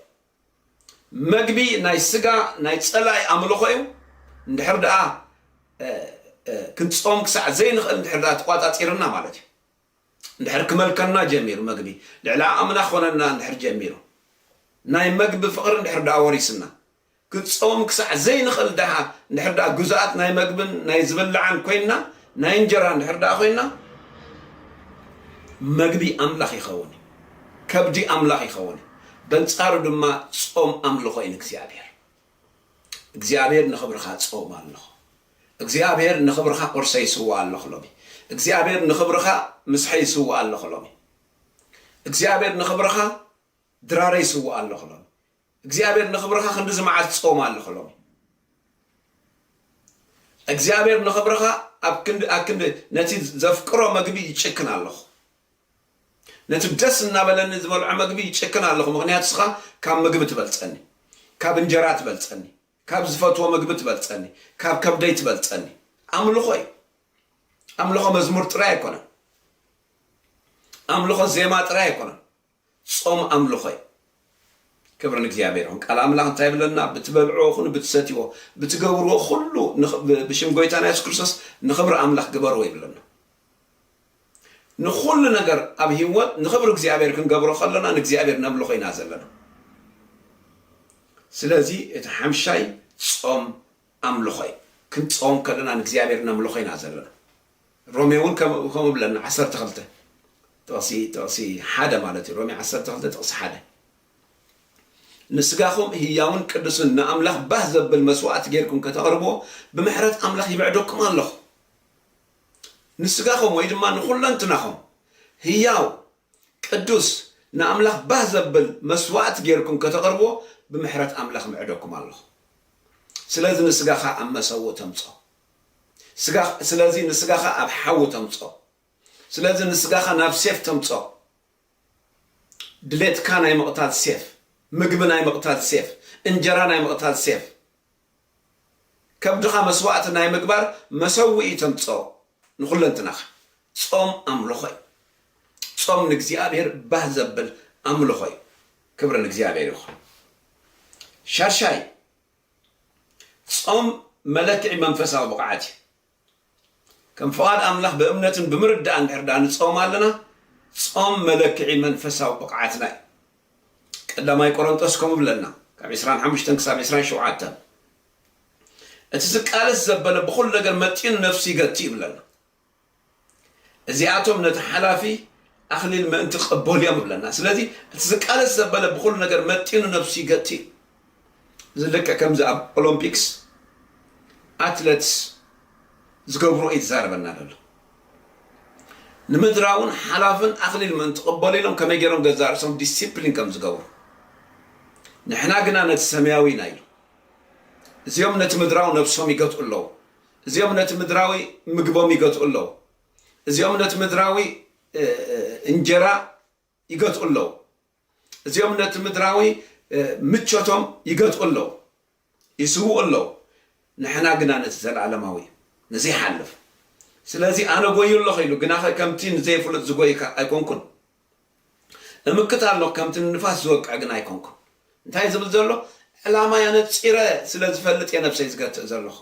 መግቢ ናይ ስጋ ናይ ጸላኢ ኣምልኾ እዩ። እንድሕር ደኣ ክንጾም ክሳዕ ዘይንኽእል እንድሕር ደኣ ተቋጻጺርና ማለት እዩ። እንድሕር ክመልከና ጀሚሩ መግቢ ልዕሊ ዓቕምና ክኾነና እንድሕር ጀሚሩ ናይ መግቢ ፍቕሪ እንድሕር ደኣ ወሪስና ክትጸውም ክሳዕ ዘይንኽእል ደኣ እንድሕር ደኣ ግዙኣት ናይ መግብን ናይ ዝብላዕን ኮይንና ናይ እንጀራ እንድሕር ደኣ ኮይንና መግቢ ኣምላኽ ይኸውን እዩ ከብዲ ኣምላኽ ይኸውን እዩ በንጻሩ ድማ ጾም ኣምልኾ እዩ ንእግዚኣብሔር እግዚኣብሔር ንኽብርኻ ጾም ኣለኹ እግዚኣብሔር ንኽብርኻ ቁርሰይ ይስዋእ ኣለኹ ሎሚ እግዚኣብሔር ንኽብርኻ ምስሐይ ይስዋእ ኣለኹ ሎሚ እግዚኣብሔር ንኽብርኻ ድራረይ ይስዋእ ኣለኹ ሎሚ እግዚኣብሔር ንኽብርኻ ክንዲ ዝመዓት ጾም ኣለኹ ሎሚ እግዚኣብሔር ንኽብርኻ ኣብ ክንዲ ኣብ ክንዲ ነቲ ዘፍቅሮ መግቢ ይጭክን ኣለኹ ነቲ ደስ እናበለኒ ዝበልዖ መግቢ ይጭክን ኣለኹ ምኽንያቱ ስኻ ካብ ምግቢ ትበልጸኒ ካብ እንጀራ ትበልጸኒ ካብ ዝፈትዎ ምግቢ ትበልጸኒ ካብ ከብደይ ትበልጸኒ ኣምልኾ እዩ ኣምልኾ መዝሙር ጥራይ ኣይኮነን ኣምልኾ ዜማ ጥራይ ኣይኮነን ጾም ኣምልኾ እዩ። ክብሪ ንእግዚኣብሔር ይኹን። ቃል ኣምላኽ እንታይ ይብለና? ብትበልዕዎ ኹኑ ብትሰትይዎ ብትገብርዎ ኹሉ ብሽም ጎይታና የሱስ ክርስቶስ ንኽብሪ ኣምላኽ ግበርዎ ይብለና። ንኹሉ ነገር ኣብ ህይወት ንኽብሪ እግዚኣብሔር ክንገብሮ ከለና ንእግዚኣብሔር ነምልኾ ኢና ዘለና። ስለዚ እቲ ሓምሻይ ጾም ኣምልኾ እዩ። ክንጾም ከለና ንእግዚኣብሔር ነምልኾ ኢና ዘለና። ሮሜ እውን ከምኡ ከምኡ ብለና ዓሰርተ ክልተ ጥቕሲ ጥቕሲ ሓደ ማለት እዩ ሮሜ ዓሰርተ ክልተ ጥቕሲ ሓደ ንስጋኹም ህያውን ቅዱስን ንኣምላኽ ባህ ዘብል መስዋእቲ ጌርኩም ከተቕርብዎ ብምሕረት ኣምላኽ ይብዕደኩም ኣለኹ ንስጋኹም ወይ ድማ ንኹለንትናኹም ህያው ቅዱስ ንኣምላኽ ባህ ዘብል መስዋእቲ ጌርኩም ከተቕርብዎ ብምሕረት ኣምላኽ ምዕደኩም ኣለኹ ስለዚ ንስጋኻ ኣብ መሰውእ ተምጾ ስጋ ስለዚ ንስጋኻ ኣብ ሓዊ ተምጾ ስለዚ ንስጋኻ ናብ ሴፍ ተምጾ ድሌትካ ናይ ምቕታል ሴፍ ምግቢ ናይ ምቕታል ሴፍ እንጀራ ናይ ምቕታል ሴፍ ከብድኻ መስዋእቲ ናይ ምግባር መሰውኢ ተምጾ ንኹለንትናኻ ጾም ኣምልኾ እዩ ጾም ንእግዚኣብሔር ባህ ዘብል ኣምልኾ እዩ ክብሪ ንእግዚኣብሔር ይኹን ሻድሻይ ጾም መለክዒ መንፈሳዊ ብቕዓት እዩ። ከም ፍቓድ ኣምላኽ ብእምነትን ብምርዳእ እንድሕር ደኣ ንጾም ኣለና፣ ጾም መለክዒ መንፈሳዊ ብቕዓትና እዩ። ቀዳማይ ቆሮንጦስ ከምኡ ብለና ካብ ዕስራን ሓሙሽተን ክሳብ ዕስራን ሸውዓተን እቲ ዝቃለስ ዘበለ ብኹሉ ነገር መጢኑ ነፍሱ ይገቲ እዩ ብለና። እዚኣቶም ነቲ ሓላፊ ኣኽሊል ምእንቲ ክቕበሉ እዮም እብለና። ስለዚ እቲ ዝቃለስ ዘበለ ብኹሉ ነገር መጢኑ ነብሱ ይገቲ እዩ። እዚ ልክዕ ከምዚ ኣብ ኦሎምፒክስ ኣትለትስ ዝገብሮ እዩ ዝዛረበና ዘሎ። ንምድራውን ሓላፍን ኣኽሊል ምእንቲ ክቕበሉ ኢሎም ከመይ ገይሮም ገዛ ርእሶም ዲሲፕሊን ከም ዝገብሩ ንሕና ግና ነቲ ሰማያዊ ኢና ኢሉ እዚኦም ነቲ ምድራዊ ነብሶም ይገትኡ ኣለዉ። እዚኦም ነቲ ምድራዊ ምግቦም ይገትኡ ኣለዉ። እዚኦም ነቲ ምድራዊ እንጀራ ይገትኡ ኣለዉ። እዚኦም ነቲ ምድራዊ ምቾቶም ይገትኡ ኣለዉ፣ ይስውኡ ኣለዉ። ንሕና ግና ነቲ ዘለኣለማዊ ንዘይሓልፍ ስለዚ ኣነ ጎዩ ኣለኹ ኢሉ ግናኸ ከምቲ ንዘይፍሉጥ ዝጎይካ ኣይኮንኩን እምክት ኣሎ ከምቲ ንንፋስ ዝወቅዕ ግን ኣይኮንኩን እንታይ ዝብል ዘሎ ዕላማይ ኣነጺረ ስለ ዝፈልጥ እየ ነብሰይ ዝገትእ ዘለኹ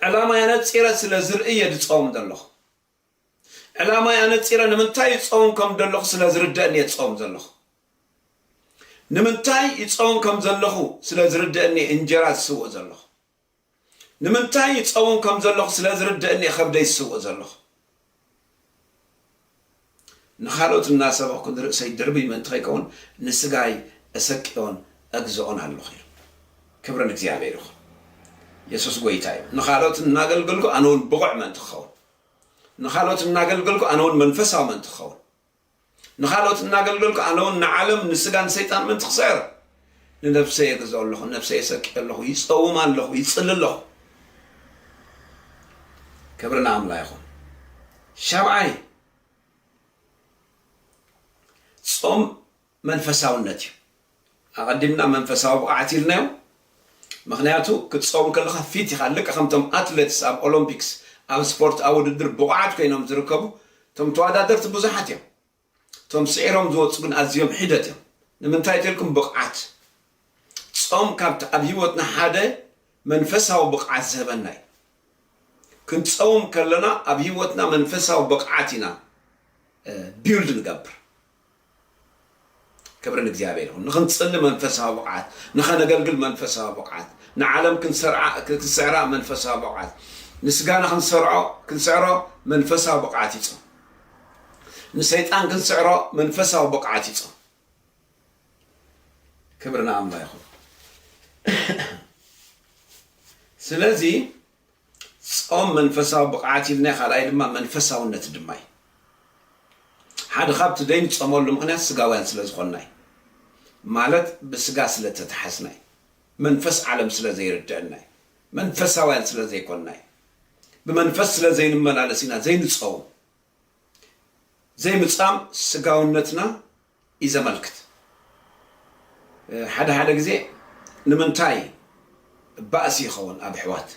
ዕላማይ ኣነጺረ ስለ ዝርኢ እየ ዝጸውም ዘለኹ ዕላማይ ኣነጺረ ንምንታይ ይጸውም ከም ዘለኹ ስለ ዝርደእኒ እየ ዝጸውም ዘለኹ ንምንታይ ይጸውም ከም ዘለኹ ስለ ዝርደእኒ እንጀራ ዝስውእ ዘለኹ ንምንታይ ይጸውም ከም ዘለኹ ስለ ዝርደእኒ እየ ከብደይ ዝስውእ ዘለኹ። ንኻልኦት እናሰበኽኩ ንርእሰይ ድርብይ ምእንቲ ከይከውን ንስጋይ እሰቅዮን እግዝኦን ኣለኹ ኢሉ። ክብሪ ንእግዚኣብሄር ይኹን። የሱስ ጎይታ እዩ። ንኻልኦት እናገልገልኩ ኣነ እውን ብቑዕ ምእንቲ ክኸውን፣ ንኻልኦት እናገልገልኩ ኣነ እውን መንፈሳዊ ምእንቲ ክኸውን፣ ንኻልኦት እናገልገልኩ ኣነ ውን ንዓለም ንስጋን ሰይጣን ምእንቲ ክስዕር ንነብሰይ የግዝኦ ኣለኹ ነብሰይ የሰቅዮ ኣለኹ ይጸውም ኣለኹ ይጽሊ ኣለኹ ክብሪ ንኣምላ ይኹን ሻብዓይ ጾም መንፈሳውነት እዩ ኣቀዲምና መንፈሳዊ ብቅዓት ኢልናዮ ምክንያቱ ክትጸውን ከለካ ፊት ኢካ ልክ ከምቶም ኣትለትስ ኣብ ኦሎምፒክስ ኣብ ስፖርት ኣብ ውድድር ብቁዓት ኮይኖም ዝርከቡ እቶም ተዋዳደርቲ ብዙሓት እዮም እቶም ስዒሮም ዝወጹ ግን ኣዝዮም ሒደት እዮም ንምንታይ ተልኩም ብቅዓት ጾም ካብቲ ኣብ ሂወትና ሓደ መንፈሳዊ ብቅዓት ዝህበና እዩ ክንጸውም ከለና ኣብ ሂወትና መንፈሳዊ ብቅዓት ኢና ቢውልድ ንገብር ክብሪ ንእግዚኣብሔር ይኹን። ንኽንጽሊ መንፈሳዊ ብቕዓት፣ ንኸነገልግል መንፈሳዊ ብቕዓት፣ ንዓለም ክንስዕራ መንፈሳዊ ብቕዓት፣ ንስጋና ክንስዕሮ መንፈሳዊ ብቕዓት ይጾም። ንሰይጣን ክንስዕሮ መንፈሳዊ ብቕዓት ይጾም። ክብሪ ንኣምላኽ ይኹን። ስለዚ ጾም መንፈሳዊ ብቕዓት ኢልና ካልኣይ ድማ መንፈሳውነት ድማ እዩ። ሓደ ካብቲ ዘይንጸመሉ ምኽንያት ስጋውያን ስለ ዝኾንና እዩ። ማለት ብስጋ ስለ እተታሓዝና እዩ። መንፈስ ዓለም ስለ ዘይርደኣና እዩ። መንፈሳውያን ስለ ዘይኮንና እዩ። ብመንፈስ ስለ ዘይንመላለስ ኢና ዘይንጸውም። ዘይምጻም ስጋውነትና እዩ ዘመልክት። ሓደ ሓደ ግዜ ንምንታይ ባእሲ ይኸውን ኣብ ኣሕዋት?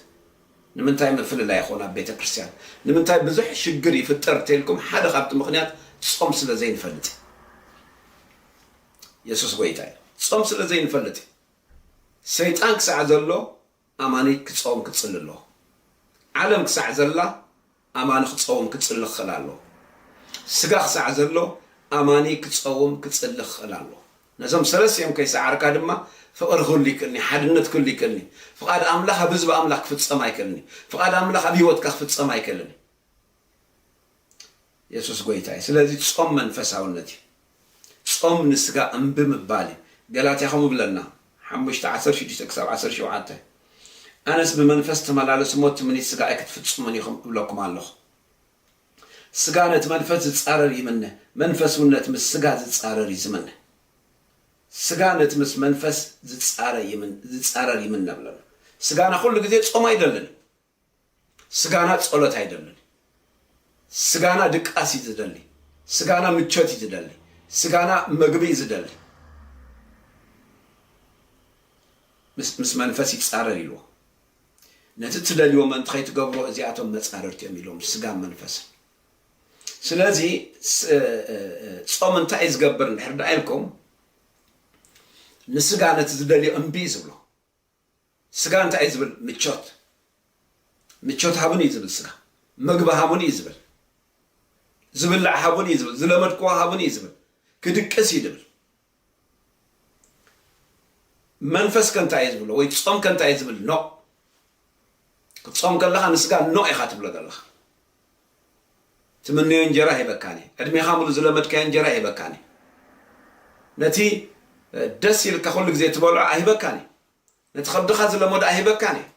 ንምንታይ ምፍልላይ ይኸውን ኣብ ቤተ ክርስቲያን? ንምንታይ ብዙሕ ሽግር ይፍጠር ተልኩም ሓደ ካብቲ ምኽንያት ጾም ስለ ዘይንፈልጥ እዩ። የሱስ ጎይታ እዩ። ጾም ስለ ዘይንፈልጥ እዩ። ሰይጣን ክሳዕ ዘሎ ኣማኒ ክጸውም ክጽሊ ኣለዎ። ዓለም ክሳዕ ዘላ ኣማኒ ክጸውም ክጽሊ ክኽእል ኣለዎ። ስጋ ክሳዕ ዘሎ ኣማኒ ክጸውም ክጽሊ ክኽእል ኣለዎ። ነዞም ሰለስቲኦም ከይሰዓርካ ድማ ፍቕሪ ክህሉ ይክእልን እዩ፣ ሓድነት ክህሉ ይክእልን እዩ፣ ፍቓድ ኣምላኽ ኣብ ህዝቢ ኣምላኽ ክፍጸም ኣይክእልን እዩ፣ ፍቓድ ኣምላኽ ኣብ ህይወትካ ክፍጸም ኣይክእልን እዩ። የሱስ ጎይታ እዩ ስለዚ ጾም መንፈሳውነት እዩ ጾም ንስጋ እምቢ ምባል እዩ ገላትያ ከምኡ ይብለና ሓሙሽተ ዓሰርተ ሽዱሽተ ክሳብ ዓሰርተ ሸውዓተ ኣነስ ብመንፈስ ተመላለሱ እሞ ትምኒት ስጋ ኣይክትፍጽሙን ኢኹም እብለኩም ኣለኹ ስጋ ነቲ መንፈስ ዝጻረር ይምነ መንፈስ እውን ነቲ ምስ ስጋ ዝጻረር እዩ ዝምነ ስጋ ነቲ ምስ መንፈስ ዝጻረር ይምነ ብለና ስጋና ኩሉ ግዜ ጾም ኣይደልን እዩ ስጋና ጸሎት ኣይደልን ስጋና ድቃስ እዩ ዝደሊ ስጋና ምቾት እዩ ዝደሊ ስጋና መግቢ እዩ ዝደሊ ምስ መንፈስ ይጻረር ኢልዎ ነቲ እትደልዎ ምእንቲ ከይትገብሮ እዚኣቶም መፃርርቲ እዮም ኢሎም ስጋን መንፈስን ስለዚ ፆም እንታይ ዝገብር እንድሕር ዳ ኢልኩም ንስጋ ነቲ ዝደልዮ እምቢ ዝብሎ ስጋ እንታይ እዩ ዝብል ምቾት ምቾት ሃቡኒ እዩ ዝብል ስጋ ምግቢ ሃቡኒ እዩ ዝብል ዝብላዕ ሃቡኒ እዩ ዝብል ዝለመድክዎ ሃቡኒ እዩ ዝብል ክድቅስ እዩ ዝብል መንፈስ ከንታይ እዩ ዝብሎ ወይ ጾም ከንታይ እዩ ዝብል ኖ ክትጾም ከለኻ ንስጋ ኖ ኢኻ ትብሎ ዘለኻ ትምነዮ እንጀራ ሂበካን እየ ዕድሜኻ ሙሉ ዝለመድካዮ እንጀራ ሂበካን እየ ነቲ ደስ ኢልካ ኩሉ ግዜ ትበልዖ ኣይህበካን እየ ነቲ ከብድኻ ዝለመዶ ኣይህበካን እየ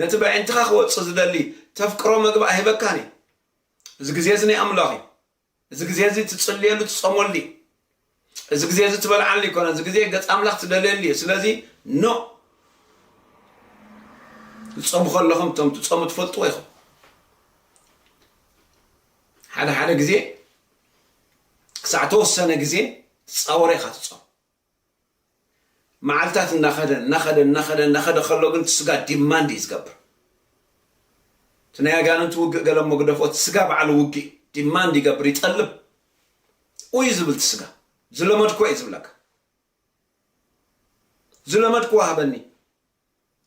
ነቲ በዒንትኻ ክወጽእ ዝደሊ ተፍቅሮ መግቢ ኣይህበካን እየ እዚ ግዜ እዚ ናይ ኣምላኽ እዩ እዚ ግዜ እዚ ትጽልየሉ ትጾመሉ እዩ። እዚ ግዜ እዚ ትበልዓሉ ኣይኮነን። እዚ ግዜ ገጽ ኣምላኽ ትደልየሉ እዩ። ስለዚ ን ትጾሙ ከለኹም እቶም ትጾሙ ትፈልጥዎ ኢኹም። ሓደ ሓደ ግዜ ክሳዕ ተወሰነ ግዜ ትጻወረ ኢኻ ትጾም መዓልታት እናኸደ እናኸደ እናኸደ እናኸደ ከሎ ግን እቲ ስጋ ዲማንድ እዩ ዝገብር። እቲ ናይ ኣጋንንቲ ውግእ ገለ እሞ ግደፎ እቲ ስጋ ባዕሉ ውግእ እዩ። ዲማንድ ይገብር ይጠልብ ኡይ ዝብል እቲ ስጋ ዝለመድክዎ እዩ ዝብለካ። ዝለመድክዎ ሃበኒ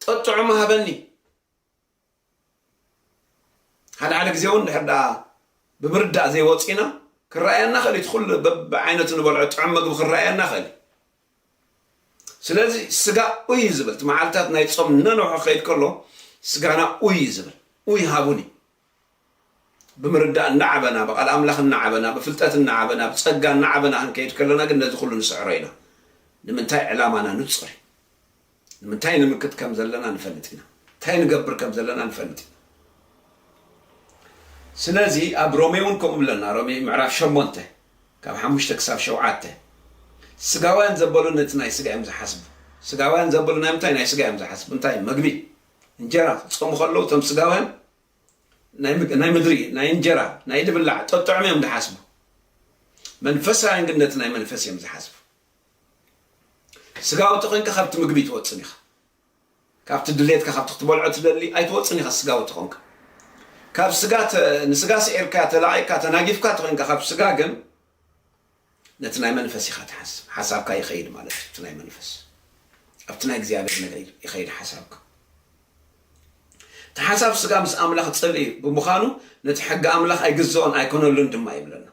ጠጥዑሙ ሃበኒ ሓደ ሓደ ግዜ እውን ድሕር ድኣ ብምርዳእ ዘይወፂና ክረኣየና ክእል እቲ ኩሉ በብዓይነቱ ንበልዖ ጥዑም ምግቢ ክረኣየና ክእል እዩ ስለዚ ስጋ ኡይ እዩ ዝብል እቲ መዓልትታት ናይ ፆም እናነውሐ ክኸይድ ከሎ ስጋና ኡይ እዩ ዝብል ኡይ ሃቡኒ ብምርዳእ እናዓበና፣ ብቓል ኣምላኽ እናዓበና፣ ብፍልጠት እናዓበና፣ ብጸጋ እናዓበና ክንከይድ ከሎና ግን ነዚ ኹሉ ንስዕሮ ኢና። ንምንታይ? ዕላማና ንጹር እዩ። ንምንታይ ንምክት ከም ዘለና ንፈልጥ ኢና። እንታይ ንገብር ከም ዘለና ንፈልጥ ኢና። ስለዚ ኣብ ሮሜ እውን ከምኡ ብለና፣ ሮሜ ምዕራፍ ሸሞንተ ካብ ሓሙሽተ ክሳብ ሸውዓተ፣ ስጋውያን ዘበሉ ነቲ ናይ ስጋ እዮም ዝሓስቡ። ስጋውያን ዘበሉ ናይ ምንታይ ናይ ስጋ እዮም ዝሓስቡ? እንታይ? መግቢ፣ እንጀራ፣ ክጾሙ ከለዉ እቶም ስጋውያን ናይ ምድሪ ናይ እንጀራ ናይ ድብላዕ ጠጥዑም እዮም ዝሓስቡ መንፈሳውያን ግን ነቲ ናይ መንፈስ እዮም ዝሓስቡ ስጋዊ ተኾንካ ካብቲ ምግቢ ትወፅን ኢኻ ካብቲ ድሌትካ ካብቲ ክትበልዖ ትደሊ ኣይትወፅን ኢኻ ስጋዊ ተኾንካ ካብ ስጋ ንስጋ ስዒርካ ተላቂካ ተናጊፍካ ተኾንካ ካብ ስጋ ግን ነቲ ናይ መንፈስ ኢኻ ትሓስብ ሓሳብካ ይኸይድ ማለት እዩ እቲ ናይ መንፈስ ኣብቲ ናይ እግዚኣብሔር ነገር ይኸይድ ሓሳብካ እቲ ሓሳብ ስጋ ምስ ኣምላኽ ጽልኢ ብምዃኑ ነቲ ሕጊ ኣምላኽ ኣይግዝኦን ኣይኮነሉን ድማ ይብለና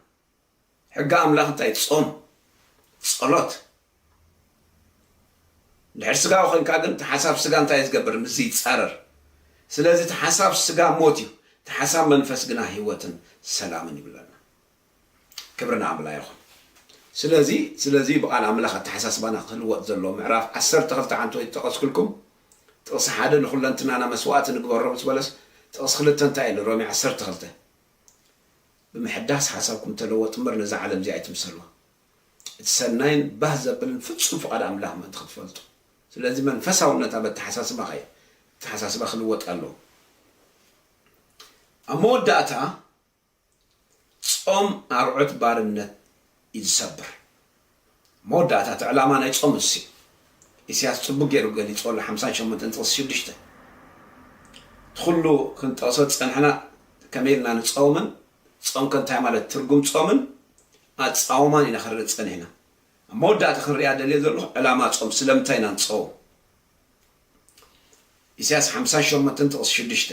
ሕጊ ኣምላኽ እንታይ ጾም ጸሎት ድሕር ስጋ ኮንካ ግን እቲ ሓሳብ ስጋ እንታይ ዝገብር ምስ ይፃረር ስለዚ እቲ ሓሳብ ስጋ ሞት እዩ እቲ ሓሳብ መንፈስ ግና ህይወትን ሰላምን ይብለና ክብሪ ንኣምላ ይኹን ስለዚ ስለዚ ብቃል ኣምላኽ ኣተሓሳስባና ክልወጥ ዘለዎ ምዕራፍ ዓሰርተ ክልተ ሓንቲ ወይ ዝጠቀስኩልኩም ጥቅሲ ሓደ ንኩለንትናና መስዋእቲ ንግበሮ ምስ በለስ ጥቅሲ ክልተ እንታይ ኢሉ ሮሜ ዓሰርተ ክልተ ብምሕዳስ ሓሳብኩም ተለወጡ እምበር ነዛ ዓለም እዚ ኣይትምሰልዋ እቲ ሰናይን ባህ ዘብልን ፍጹም ፍቃድ ኣምላኽ ምእንቲ ክትፈልጡ ስለዚ መንፈሳውነት ኣብ ኣተሓሳስባኻ እዩ ኣተሓሳስባ ክልወጥ ኣለዎ ኣብ መወዳእታ ጾም ኣርዑት ባርነት እዩ ዝሰብር። መወዳእታ እቲ ዕላማ ናይ ጾም ንሱ እዩ። ኢሲያስ ጽቡቅ ጌሩ ገሊጽዎ ኣሎ ሓምሳን ሸሞንተን ጥቅሲ ሽዱሽተ። እቲ ኩሉ ክንጠቅሶ ዝጸንሕና ከመይ ኢልና ንጸውምን ጾም ከ እንታይ ማለት ትርጉም ጾምን ኣጻውማን ኢና ክንርኢ ጸኒሕና። ኣብ መወዳእታ ክንሪኣ ደልየ ዘለኹ ዕላማ ጾም ስለምንታይ ኢና ንጸውም? ኢሳያስ ሓምሳን ሸሞንተን ጥቕሲ ሽዱሽተ፣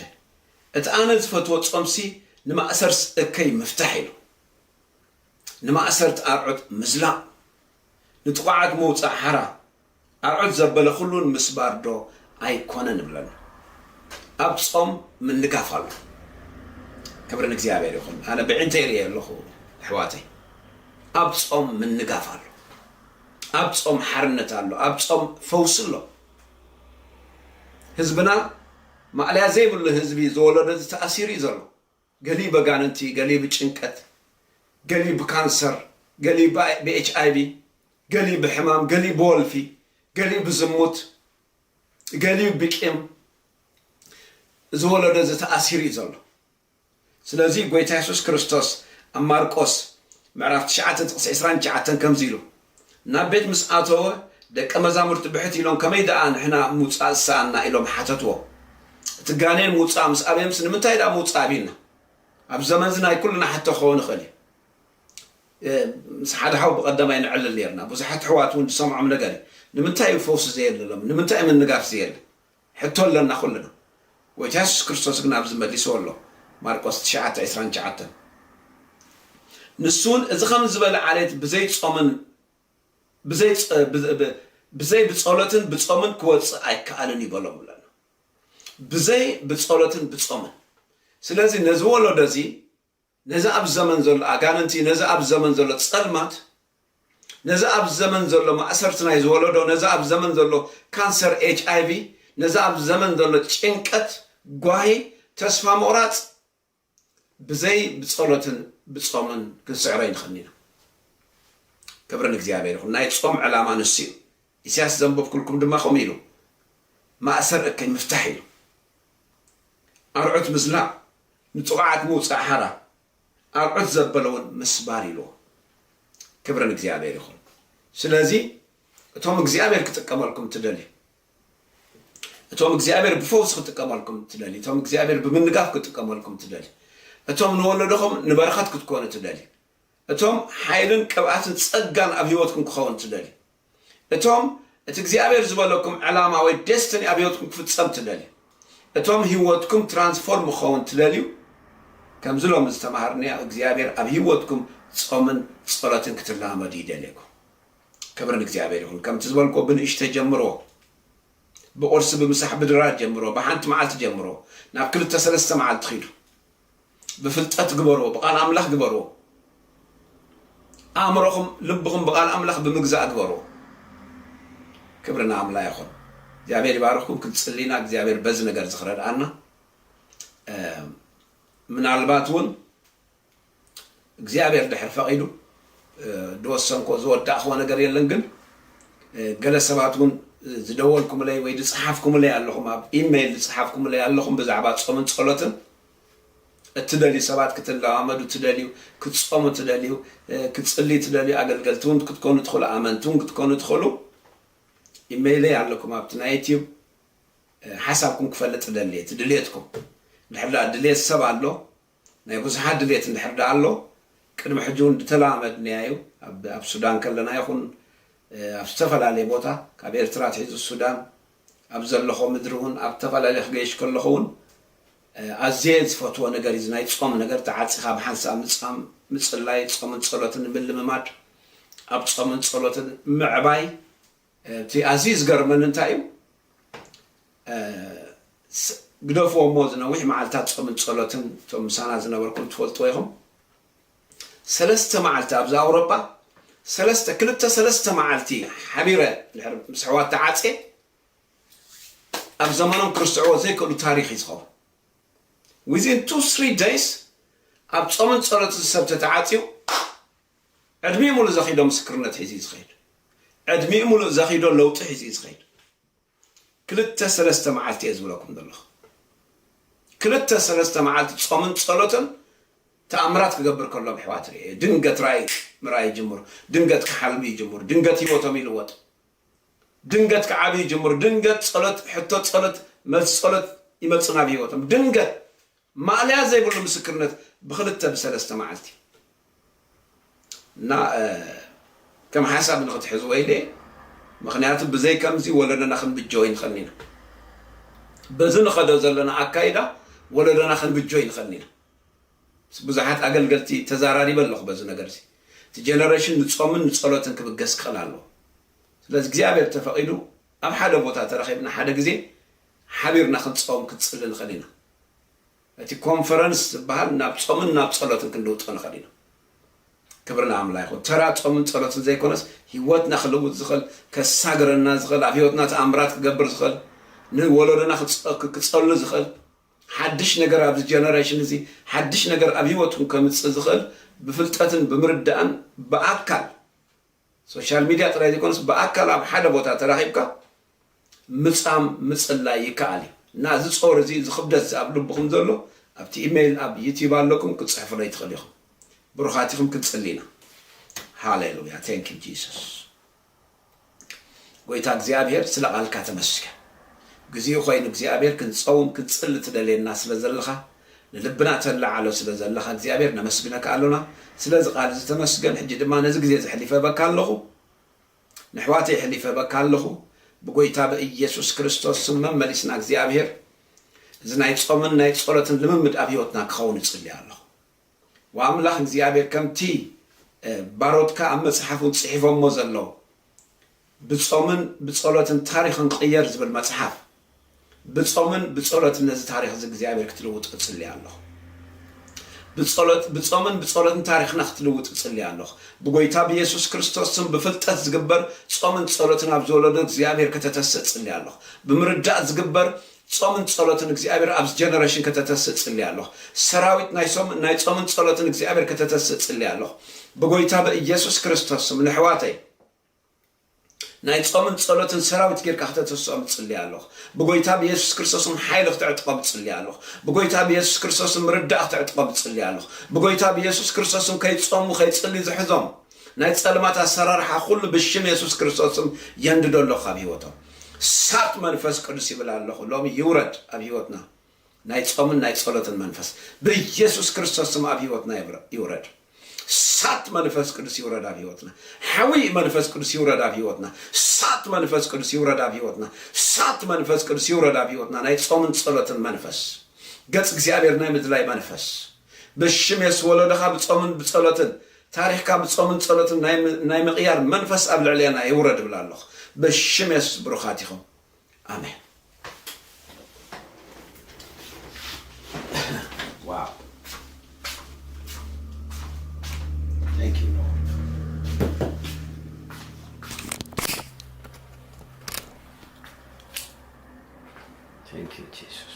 እቲ ኣነ ዝፈትዎ ጾምሲ ንማእሰርት እከይ ምፍታሕ ኢዩ። ንማእሰርት ኣርዑት ምዝላቕ፣ ንጥቑዓት ምውጻእ ሓራ፣ ኣርዑት ዘበለ ኩሉ ምስባርዶ ኣይኮነን እብለና። ኣብ ጾም ምንጋፍ ኣሎ። ክብሪ ንእግዚኣብሔር ይኹን። ኣነ ብዒንተይ ርእየ ኣለኹ ኣሕዋተይ። ኣብ ጾም ምንጋፍ ኣሎ። ኣብ ጾም ሓርነት ኣሎ ኣብ ጾም ፈውሲ ኣሎ ህዝብና ማእለያ ዘይብሉ ህዝቢ ዝወለዶ እዚ ተኣሲሩ እዩ ዘሎ ገሊኡ በጋንንቲ ገሊኡ ብጭንቀት ገሊኡ ብካንሰር ገሊኡ ብኤችኣይቪ ገሊኡ ብሕማም ገሊኡ ብወልፊ ገሊኡ ብዝሙት ገሊኡ ብቂም እዚ ወለዶ እዚ ተኣሲሩ እዩ ዘሎ ስለዚ ጎይታ የሱስ ክርስቶስ ኣብ ማርቆስ ምዕራፍ ትሽዓተ ጥቕሲ ዕስራን ትሽዓተን ከምዚ ኢሉ ናብ ቤት ምስ ኣተወ ደቀ መዛሙርቲ ብሕት ኢሎም ከመይ ደኣ ንሕና ምውጻእ ዝሰኣንና ኢሎም ሓተትዎ እቲ ጋኔን ምውጻእ ምስ ኣበየምስ ንምንታይ ደኣ ምውጻእ ቢልና ኣብ ዘመንዚ ናይ ኩልና ሕቶ ክኸውን ይኽእል እዩ ምስ ሓደ ሓው ብቐዳማይ ንዕልል ነርና ብዙሓት ኣሕዋት እውን ዝሰምዖም ነገር እዩ ንምንታይ እዩ ፈውሲ ዘየለ ሎም ንምንታይ እዩ ምንጋፍ ዘየለ ሕቶ ኣሎና ኩልና ጎይታ የሱስ ክርስቶስ ግና ኣብዚ መሊስዎ ኣሎ ማርቆስ ትሽዓተ ዕስራን ትሽዓተን ንሱ ውን እዚ ከምዚ ዝበለ ዓሌት ብዘይ ጾምን ብዘይ ብዘይ ብጸሎትን ብጾምን ክወጽእ ኣይከኣልን እዩ በሎም ኣለና ብዘይ ብጸሎትን ብጾምን ስለዚ ነዚ ወለዶ እዚ ነዚ ኣብዚ ዘመን ዘሎ ኣጋንንቲ፣ ነዚ ኣብዚ ዘመን ዘሎ ጸልማት፣ ነዚ ኣብዚ ዘመን ዘሎ ማእሰርቲ ናይ ዝወለዶ፣ ነዚ ኣብዚ ዘመን ዘሎ ካንሰር ኤችኣይቪ፣ ነዚ ኣብዚ ዘመን ዘሎ ጭንቀት፣ ጓሂ፣ ተስፋ ምቑራጽ ብዘይ ብጸሎትን ብጾምን ክንስዕሮ ኣይንኽእልን ኢና። ክብሪ ንእግዚኣብሔር ይኹን። ናይ ጾም ዕላማ ንሱ እዩ። ኢሳያስ ዘንበብኩልኩም ድማ ከምኡ ኢሉ ማእሰር እከይ ምፍታሕ ኢሉ ኣርዑት ምዝላቕ ንጥቑዓት ምውጻእ ሓራ ኣርዑት ዘበለ እውን ምስባር ኢልዎ ክብሪ ንእግዚኣብሔር ይኹን ስለዚ እቶም እግዚኣብሔር ክጥቀመልኩም ትደልዩ እቶም እግዚኣብሔር ብፈውሲ ክጥቀመልኩም ትደልዩ እቶም እግዚኣብሔር ብምንጋፍ ክጥቀመልኩም ትደልዩ እቶም ንወለዶኹም ንበረኸት ክትኮኑ ትደልዩ እቶም ሓይልን ቅብኣትን ጸጋን ኣብ ህይወትኩም ክኸውን ትደልዩ እቶም እቲ እግዚኣብሔር ዝበለኩም ዕላማ ወይ ደስትኒ ኣብ ህይወትኩም ክፍጸም ትደልዩ እቶም ህይወትኩም ትራንስፎርም ክኸውን ትደልዩ ከምዚ ሎሚ ዝተማሃርንዮ እግዚኣብሔር ኣብ ህይወትኩም ጾምን ጸሎትን ክትላመዱ ይደልየኩም ክብሪ ንእግዚኣብሔር ይኹን ከምቲ ዝበልክዎ ብንእሽተይ ጀምርዎ ብቁርሲ ብምሳሕ ብድራር ጀምርዎ ብሓንቲ መዓልቲ ጀምርዎ ናብ ክልተ ሰለስተ መዓልቲ ኺዱ ብፍልጠት ግበርዎ ብቃል ኣምላኽ ግበርዎ ኣእምሮኹም ልብኹም ብቃል ኣምላኽ ብምግዛእ ግበርዎ ክብሪ ንኣምላ ይኹን እግዚኣብሔር ይባርኽኩም ክንጽሊ ኢና እግዚኣብሔር በዚ ነገር እዚ ክረድኣና ምናልባት እውን እግዚኣብሔር ድሕር ፈቒዱ ዝወሰንኮ ዝወዳእኽዎ ነገር የለን ግን ገለ ሰባት እውን ዝደወልኩምለይ ወይ ዝፀሓፍኩምለይ ኣለኹም ኣብ ኢሜይል ዝፀሓፍኩምለይ ኣለኹም ብዛዕባ ፆምን ፀሎትን እትደልዩ ሰባት ክትለማመዱ እትደልዩ፣ ክትጾሙ እትደልዩ፣ ክትጽልዩ እትደልዩ፣ ኣገልገልቲ ውን ክትኮኑ ትኽእሉ፣ ኣመንቲ ውን ክትኮኑ ትኽእሉ፣ ኢመይለይ ኣለኩም ኣብቲ ናይ ዩትዩብ፣ ሓሳብኩም ክፈልጥ እደሊ እቲ ድልየትኩም እንድሕር ድኣ ድልየት ሰብ ኣሎ፣ ናይ ብዙሓት ድልየት እንድሕር ድኣ ኣሎ፣ ቅድሚ ሕጂ ውን ድተለማመድናዮ እዩ፣ ኣብ ሱዳን ከለና ይኹን ኣብ ዝተፈላለየ ቦታ ካብ ኤርትራ ኣትሒዙ ሱዳን፣ ኣብ ዘለኾ ምድሪ ውን ኣብ ተፈላለየ ክገይሽ ከለኹ ውን ኣዝየ ዝፈትዎ ነገር እዩ እዚ ናይ ጾም ነገር ተዓጺኻ ብሓንሳብ ምጻም ምጽላይ ጾምን ጸሎትን ምልምማድ ኣብ ጾምን ጸሎትን ምዕባይ እቲ ኣዝዩ ዝገርመኒ እንታይ እዩ ግደፍዎ እሞ እዚ ነዊሕ መዓልታት ጾምን ጸሎትን እቶም ምሳና ዝነበርኩም ትፈልጥዎ ኢኹም ሰለስተ መዓልቲ ኣብዚ ኣውሮጳ ሰለስተ ክልተ ሰለስተ መዓልቲ ሓቢረ ድሕሪ ምስ ኣሕዋት ተዓጽየ ኣብ ዘመኖም ክርስትዕዎ ዘይክእሉ ታሪኽ እዩ ዝኸውን ዊዝን ቱ ስሪ ደይስ ኣብ ጾምን ጸሎትን ሰብ ተተዓጽዩ ዕድሚኡ ሙሉእ ዘኺዶ ምስክርነት ሒዙ እዩ ዝኸይድ ዕድሚኡ ሙሉእ ዘኺዶ ለውጢ ሒዙ እዩ ዝኸይድ ክልተ ሰለስተ መዓልቲ እየ ዝብለኩም ዘለኹ ክልተ ሰለስተ መዓልቲ ጾምን ጸሎትን ተኣምራት ክገብር ከሎ ኣብ ኣሕዋት ርኤ ድንገት ራእይ ምርኣይ ይጅምሩ ድንገት ክሓልሙ ይጅምሩ ድንገት ህይወቶም ይልወጥ ድንገት ክዓብዩ ይጅምሩ ድንገት ጸሎት ሕቶ ጸሎት መልሲ ጸሎት ይመጽእ ናብ ህይወቶም ድንገት ማእለያ ዘይብሉ ምስክርነት ብክልተ ብሰለስተ መዓልቲ እና ከም ሓሳብ ንክትሕዝዎ ኢለ እየ ምክንያቱ ብዘይ ከምዚ ወለዶና ክንብጆ ኣይንክእልን ኢና በዚ ንከዶ ዘለና ኣካይዳ ወለዶና ክንብጆ ኣይንክእልን ኢና ምስ ብዙሓት ኣገልገልቲ ተዛራሪበ ኣለኩ በዚ ነገር እዚ እቲ ጀነረሽን ንጾምን ንጸሎትን ክብገስ ክክእል ኣለዎ ስለዚ እግዚኣብሔር ተፈቂዱ ኣብ ሓደ ቦታ ተረኪብና ሓደ ግዜ ሓቢርና ክንጸውም ክንጽሊ ንኽእል ኢና። እቲ ኮንፈረንስ ዝበሃል ናብ ጾምን ናብ ጸሎትን ክንልውጦ ንኽእል ኢና። ክብሪ ንኣምላ ይኹን። ተራ ጾምን ጸሎትን ዘይኮነስ ህይወትና ክልውጥ ዝኽእል፣ ከሳግረና ዝኽእል፣ ኣብ ህይወትና ተኣምራት ክገብር ዝኽእል፣ ንወለዶና ክጸሉ ዝኽእል፣ ሓድሽ ነገር ኣብዚ ጀነረሽን እዚ ሓድሽ ነገር ኣብ ህይወትኩም ከምጽእ ዝኽእል ብፍልጠትን ብምርዳእን ብኣካል ሶሻል ሚድያ ጥራይ ዘይኮነስ ብኣካል ኣብ ሓደ ቦታ ተራኺብካ ምጻም ምጽላይ ይከኣል እዩ እና እዚ ጾር እዚ እዚ ክብደት እዚ ኣብ ልብኹም ዘሎ ኣብቲ ኢመይል ኣብ ዩቲብ ኣለኩም ክትጽሕፉለይ ትኽእሉ ኢኹም ብሩኻት ኢኹም ክንጽሊ ኢና ሃሌሉያ ቴንክ ዩ ጂሱስ ጎይታ እግዚኣብሔር ስለ ቃልካ ተመስገን ግዚኡ ኮይኑ እግዚኣብሔር ክንጸውም ክንጽሊ ትደልየና ስለ ዘለኻ ንልብና ተላዓሎ ስለ ዘለኻ እግዚኣብሔር ነመስግነካ ኣሎና ስለዚ ቃል እዚ ተመስገን ሕጂ ድማ ነዚ ግዜ እዚ ሕሊፈ ህበካ ኣለኹ ነሕዋተይ ሕሊፈ ህበካ ኣለኹ ብጎይታ ብእየሱስ ክርስቶስ ስም መመሊስና እግዚኣብሔር እዚ ናይ ጾምን ናይ ጾሎትን ልምምድ ኣብ ህይወትና ክኸውን እጽሊ ኣለኹ። ወኣምላኽ እግዚኣብሔር ከምቲ ባሮትካ ኣብ መጽሓፉን ጽሒፎሞ ዘለዉ ብጾምን ብጸሎትን ታሪኽ ንቕየር ዝብል መጽሓፍ ብጾምን ብጸሎትን ነዚ ታሪኽ እዚ እግዚኣብሔር ክትልውጦ እጽሊ ኣለኹ ብጸሎት ብጾምን ብጸሎትን ታሪኽና ክትልውጥ እጽሊ ኣለኹ ብጎይታ ብየሱስ ክርስቶስ ስም ብፍልጠት ዝግበር ጾምን ጸሎትን ኣብ ዝወለዶ እግዚኣብሔር ከተተስእ እጽሊ ኣለኹ ብምርዳእ ዝግበር ጾምን ጸሎትን እግዚኣብሔር ኣብዚ ጀነረሽን ከተተስእ ጽሊ ኣሎኽ ሰራዊት ናይ ሶም ናይ ጾምን ጸሎትን እግዚኣብሔር ከተተስእ ጽሊ ኣሎኽ ብጎይታ በኢየሱስ ክርስቶስ ስም ነሕዋተይ ናይ ጾምን ጸሎትን ሰራዊት ጌርካ ከተተስኦም ጽሊ ኣሎኽ ብጎይታ ብኢየሱስ ክርስቶስም ሓይሊ ክትዕጥቆም ጽሊ ኣሎኽ ብጎይታ ብኢየሱስ ክርስቶስም ምርዳእ ክትዕጥቆም ጽሊ ኣሎኽ ብጎይታ ብኢየሱስ ክርስቶስም ከይጾሙ ከይጽሊ ዝሕዞም ናይ ጸልማት ኣሰራርሓ ኩሉ ብሽም የሱስ ክርስቶስ ስም የንድዶ ኣለኩ ካብ ሂወቶም ሳጥ መንፈስ ቅዱስ ይብል ኣለኩ ሎሚ ይውረድ ኣብ ሂወትና ናይ ጾምን ናይ ጸሎትን መንፈስ ብየሱስ ክርስቶስ ስም ኣብ ሂወትና ይውረድ ሳጥ መንፈስ ቅዱስ ይውረድ ኣብ ሂወትና ሓዊ መንፈስ ቅዱስ ይውረድ ኣብ ሂወትና ሳጥ መንፈስ ቅዱስ ይውረድ ኣብ ሂወትና ሳጥ መንፈስ ቅዱስ ይውረድ ኣብ ሂወትና ናይ ጾምን ጸሎትን መንፈስ ገጽ እግዚኣብሔር ናይ ምድላይ መንፈስ ብሽም የሱስ ወለዶካ ብጾምን ብጸሎትን ታሪኽካ ብጾምን ጸሎትን ናይ ምቕያር መንፈስ ኣብ ልዕሌና ይውረድ እብል ኣሎኹ ብሽም የሱስ ብሩኻት ኢኹም ኣሜን። ዋው Thank you Lord Thank you Jesus